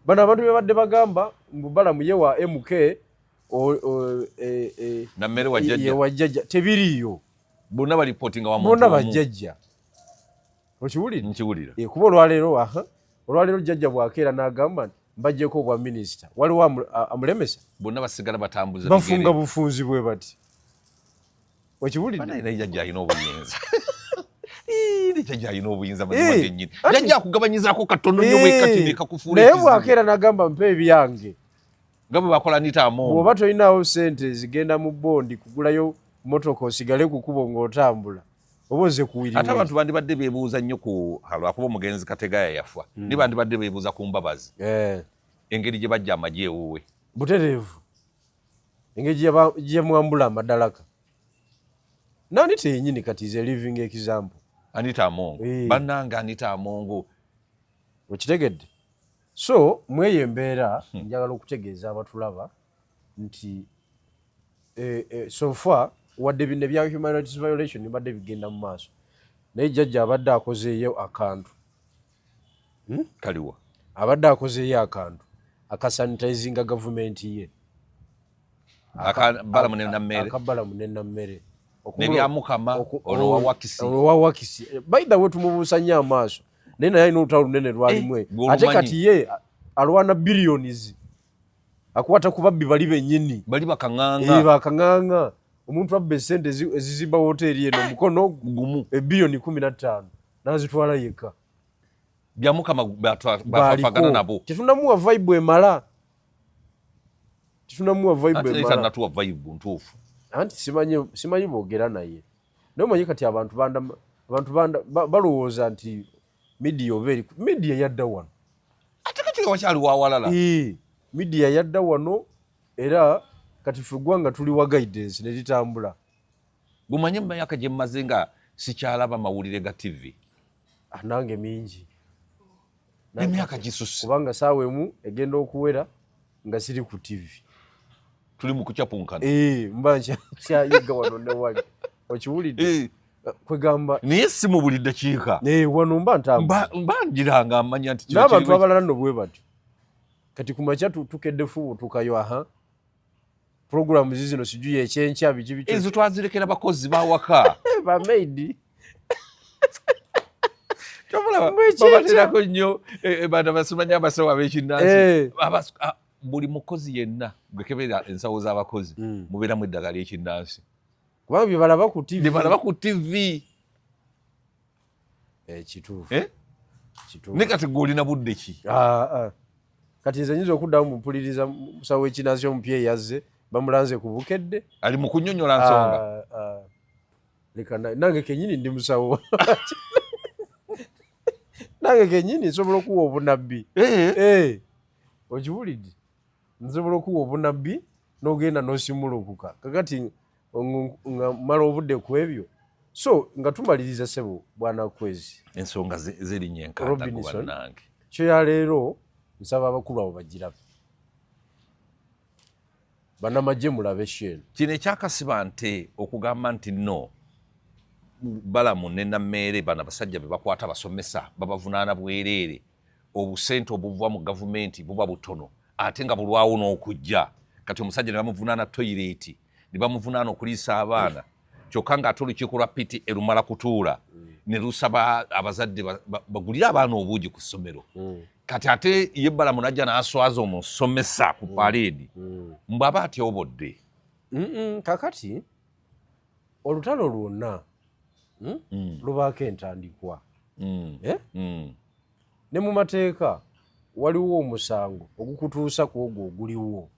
bano abantu bebadde bagamba mbu balamu ye wa mk e, e, wajajja tebiriiyo bonna bajajja okiwulira nkiwulira eh, kuba olwaleero aha olwaleero jjajja bwakeera n'agamba nti mbajjeko obwa minisita waliwo amulemesa bonna basigala batambuza bafunga bufunzi bwe bati okiwulidde jajja alina obuyinza jajja alina obuyinza mazimagenyini eh, jajja akugabanyizako katono nyo wekati eh, nekakufuula naye bwakeera nagamba mpa ebyange nga bwe bakola nitaamu bwoba tolinawo sente zigenda mu bondi kugulayo motoka osigale kukubo ng'otambula oba ozze kuwiri ate abantu bandibadde bebuuza nnyo ku lwakuba omugenzi kategaya yafa mm. ni bandibadde bebuuza ku mbabazi eh. engeri gye bajja amagye ewuwe butereevu engeri gyeyamwambula amadalaka nani teyenyini kati is a living example anita amongo eh. bananga anita amongo okitegedde so mweyo embeera hmm. njagala okutegeeza abatulaba nti eh, eh, so far wadde bino ebya human rights violation bibadde bigenda mu maaso naye jajja abadde akozeeyo akantu hmm? kaliwa abadde akozeeyo akantu akasanitizinga gavumenti ye akabalamu nenammere nebyamukama olwowawakisi by the way tumubuusa nyo amaaso naye naye alina olutalo lunene lwalimu eh, ate kati ye alwana billions akwata ku babbi bali bennyini bali bakaŋaŋa eh, bakaŋaŋa omuntu abba esente ezizimba woteeri eno mukono gumu ebiyoni eh, kumi na ttaano n'azitwala yekka byamukama bafagana nabo tetunamuwa vaibu emala tetunamuwa vaibu emalatuwa vaibu ntuufu anti simanyi boogera naye naye omanyi kati abantu balowooza nti Media oba eri media yadda wano. Ate kati nga wakyali wa walala. Ee, media yadda wano era kati ffe eggwanga tuli wa guidance ne litambula. Gumanye mu myaka gye mmaze nga sikyalaba mawulire ga TV. Ah, nange mingi. Emyaka gisusse. Kubanga saawa emu egenda okuwera. nga siri ku TV tuli mu kucapunkana eh mba kyayiga wano ne wali okiwulidde eh. kwegamba naye si mu buli ddakiika eh, wano mba ntamba mba njiranga amanya nti n'abantu abalala no bwe batyo kati kumakya tukedde fubu tukayo aha program zizino sijuye ekyenkya biki biki ezo twazirekera bakozi bawaka bamaidi babaterako nnyo eh, eh, bana basimanya abasawo abekinansi eh. ah, buli mukozi yenna gwekebera ensawo z'abakozi hmm. mubeeramu eddagala ekinnansi kubanga byebalaba ku tv eh, kituufu eh? kituufu ne kati gwolina budde ki ah, ah. kati nze nyinza okuddamu mupuliriza musawo w'ekinazi omupya eyazze bamulanze ku bukedde ali mu kunyonyola nsonga ah, leka nange kenyini ndi musawo nange kenyini nsobola okuwa obunabbi eh. Eh. okiwulidde nsobola okuwa obunabbi nogenda nosimulukuka kakati nga mala obudde ku ebyo so nga tumaliriza sebo bwana kwezi ensonga zerinya enkantakubanange kyo ya leero nsaba abakulu abo bagirabe banamagye mulabe shen kino ekyakasiba nte okugamba nti no balamu nenameere bana basajja bebakwata basomesa babavunaana bwereere obusente obuva mu gavumenti buba butono ate nga bulwawo n'okujja kati omusajja nebamuvunaana toyireeti ne bamuvunaana okuliisa abaana kyokka ng'ate olukiiko lwa piti erumala kutuula mm. ne lusaba abazadde bagulire abaana obuugi ku ssomero mm. kati ate ye balamu najja n'aswaza omusomesa ku mm. paleedi mbu aba atyobodde kakati olutalo lwonna hmm, lubaako entandikwa eh? ne mu mateeka waliwo omusango ogukutuusa ku ogwo oguliwo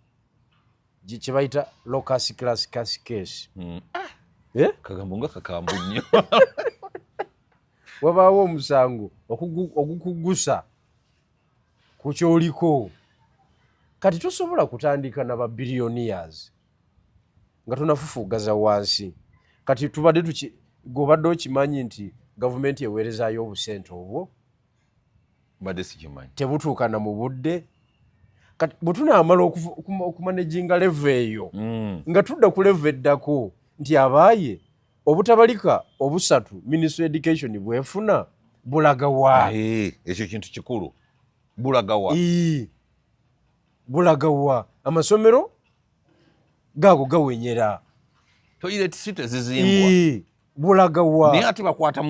kye bayita locus class cas case hmm. ah! eh? kagambo nga kakambu nnyo wabaawo omusango ogukugusa ku kyoliko kati tosobola kutandika na ba billionaires nga tonafufugaza wansi kati tubadde tuki gobadde okimanyi nti gavumenti eweerezayo obusente obwo tebutuukana mu budde kati bwe tunaamala okumanejinga leve eyo mm. nga tudda ku leve eddako nti abaaye obutabalika obusatu ministry education bwefuna bulagawa ekyo kintu kikulu bulagawa bulagawa amasomero gaago gawenyera toilet site zizimbwa bulaga wa naye ate bakwata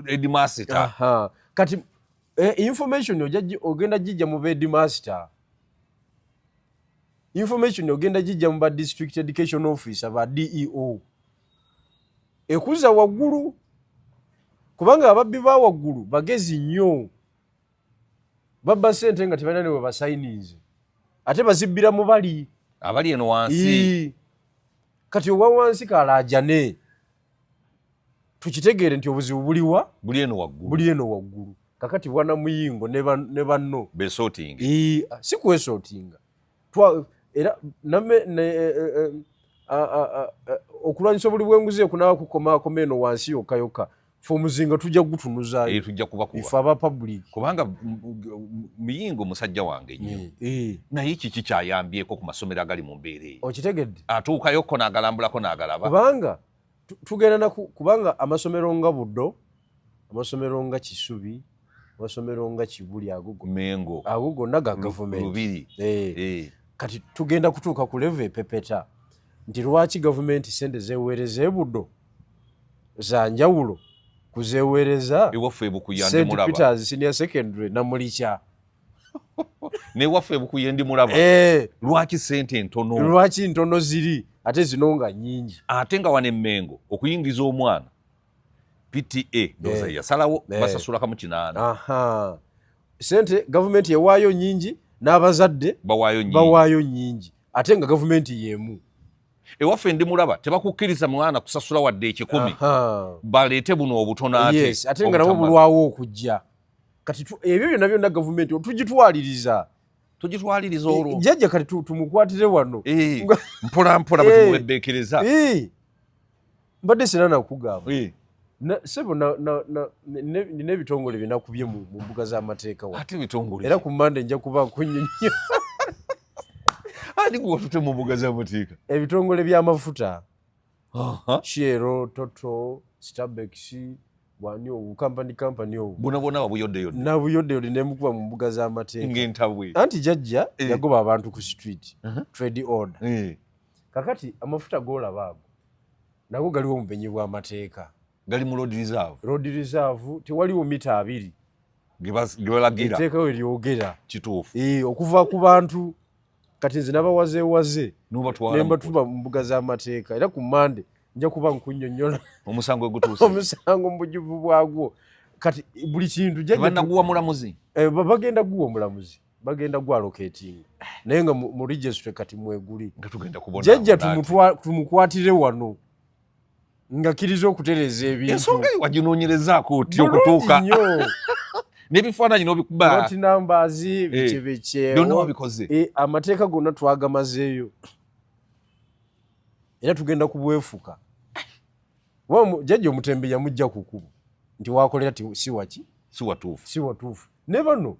edimasita kati eh, information ogenda gijja mu bedimasita information ogenda gijja mu ba district education officer ba deo ekuza waggulu kubanga ababbi ba waggulu bagezi nnyo babba sente nga tebalina ne webasayininze ate bazibbira mu bali abali eno wansi kati owa wansi kalaajane tukitegeere nti obuzibu buliwa buli eno waggulu buli eno waggulu kakati bwana muyingo ne banno besotinga si kwesotinga era name e, e, e, okulwanyisa obuli bwenguzi ekunawa kukomakoma eno wansi yokka yokka fe omuzinga tujja kugutunuzayo eh, tujja kubakubafe aba public kubanga muyingo musajja wange nyo eh, eh. naye kiki kyayambyeko ku masomero agali mu mbeera eyo okitegedde atuukayokko nagalambulako nagalaba kubanga tugenda naku kubanga amasomero nga buddo amasomero nga kisubi amasomero nga kibuli ago mengo ago gonna ga gavumenti lubiri eh. Eh. kati tugenda kutuuka ku levo epepeta nti lwaki gavumenti sente zeweereza ebudo za njawulo kuzeweereza ewaffe ebukuya ndi mulaba st peters senior secondary namulikya ne waffe bukuye ndi mulaba eh. lwaki sente ntono lwaki ntono ziri ate zino nga nyingi ate nga wane mengo okuyingiza omwana PTA ndoza eh. yasalawo eh. basasula kamu kinana aha sente government yewayo nyingi n'abazadde bawayo nyingi bawayo nyingi ate nga government yemu ewaffe ndi mulaba tebakukkiriza mwana kusasula wadde ekikumi baleete buno obutono ate yes, ate nga nabo bulwawo okujja kati ebyo byonna byonna gavumenti tugitwaliriza tugitwaliriza olwo jjajja kati tumukwatire wano eh, mpolampola bwe eh. tumuweddeekereza eh. mbadde sina nakugamba eh. sebo nina ebitongole byenakubye mu mbuga z'amateeka era ku mande nja kuba nkunyonyo ani gwewatute mu mbuga z'amateeka ebitongole by'amafuta shiero toto stabexi wani obu kampani kampani obu bona bona wabuyodde yodde nabuyodde yodde nemukuba mu mbuga z'amateeka ng'entabwe anti jajja eh. yagoba abantu ku street trade order eh. kakati amafuta golaba ago nago galiwo omubenyi bwamateeka gali mu road reserve road reserve tewaliwo mita abiri gebalagira eteeka we lyogera kituufu ee eh, okuva ku bantu kati nze nabawazewaze nembatuma mu mbuga z'amateeka era ku mande nja kuba nkunyonyola omusango egutuuse omusango mu bujuvu bwagwo kati buli kintu jajanaguwa mulamuzi eh, bagenda guwa omulamuzi bagenda gwa locating naye nga mu registry kati mweguli nga tugenda kubona jajja tumutwa tumukwatire wano nga kiriza okutereza ebintu ensonga wajinonyereza koti okutuuka nebifaananyi nobikubaati numbers eh, bikyebekye byonna wabikoze eh, amateeka gonna twagamazeeyo era tugenda kubwefuka jajja omutembe yamujja kukubo nti wakolera ti siwaki siwatuufu siwatuufu ne bano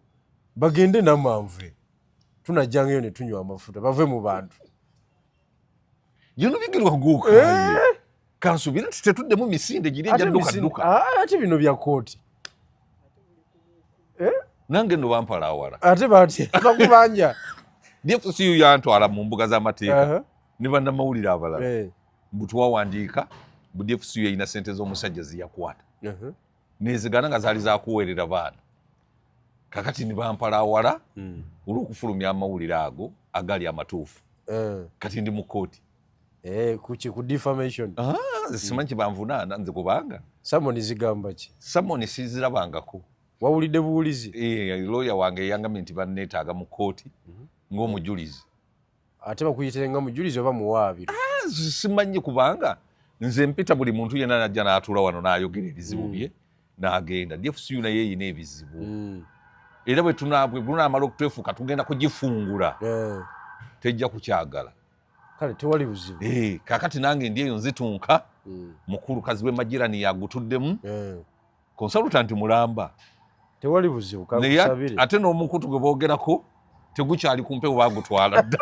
bagende namanve tunajjangayo ne tunywa amafuta bave mu bantu yonobigirwa guuka eh? kansubire nti tetuddemu misinde giri ejaddukaduka ah, ate bino bya kooti eh? nange no bampala awala ate batya bakubanja dfcu yantwala mu mbuga z'amateeka uh-huh. ne bannamawulire abalala eh. mbu twawandiika mbu dfc yalina sente z'omusajja ziyakwata uh-huh. nezigana nga zaali zakuweerera baana kakati nibampala awala hmm. olw'okufulumya amawulire ago agali amatuufu eh. kati ndi mu kooti eh, kuki ku defamation ah, simanyi kyebanvunaana nze kubanga samoni zigamba ki samoni sizirabangako wawulidde buwulizi eh, looya wange eyangamye nti banneetaaga mu kooti mhm. ng'omujulizi ate bakuyitire nga mujulizi oba muwaabi ah, simanyi kubanga nze mpita buli muntu yena najja natuula wano nayogera ebizibu mm. bye nagenda dfcu naye eyina ebizibu mm. era bwetunamala okutwefuuka tugenda kugifungula eh. tejja kukyagala kale tewali buzibu eh, kakati nange ndi eyo nzitunka mm. mukulu kazi wemajirani yagutuddemu eh. konsalutanti mulamba tewali buzibu kakusabire ate n'omukutu gwe boogerako tegukyali ku mpewo bagutwala dda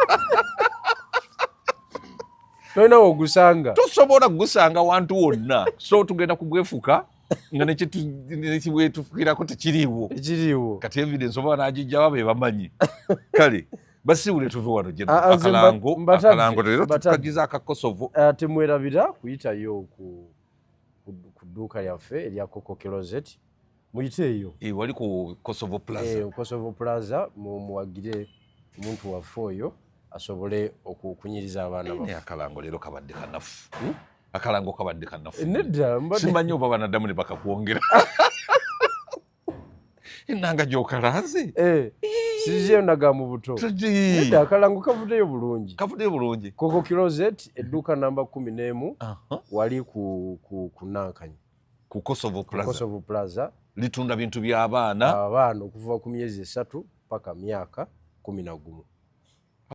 tolina wogusanga tosobola kugusanga wantu wonna so tugenda kugwefuka nga nekibwetufukirako tekiriiwo ekiriiwo kati evidence oba nagijjawa be bamanyi kale basiwule tuve wano akalango akalango lero tukagiza akakosovo eh, temwerabira kuyitayo oku ku dduuka yaffe erya coco closet muyite eyo eh, wali ku kosovo plaza eh, kosovo plaza muwagire omuntu waffe oyo asobole okukunyiriza abaana ba akalango leero kabadde kanafu hmm? akalango kabadde kanafu nedda simanyi oba banadamu ne bakakwongera enanga gyokalanze eh. siziyo naga mu buto nedda akalango kavudeyo bulungi kavudeyo bulungi koko kilozet edduuka namba kumi n'emu wali ku nankanyi ku kosovo plazakosovo plaza litunda bintu by'abaana abaana okuva ku myezi esatu paka myaka kumi na gumu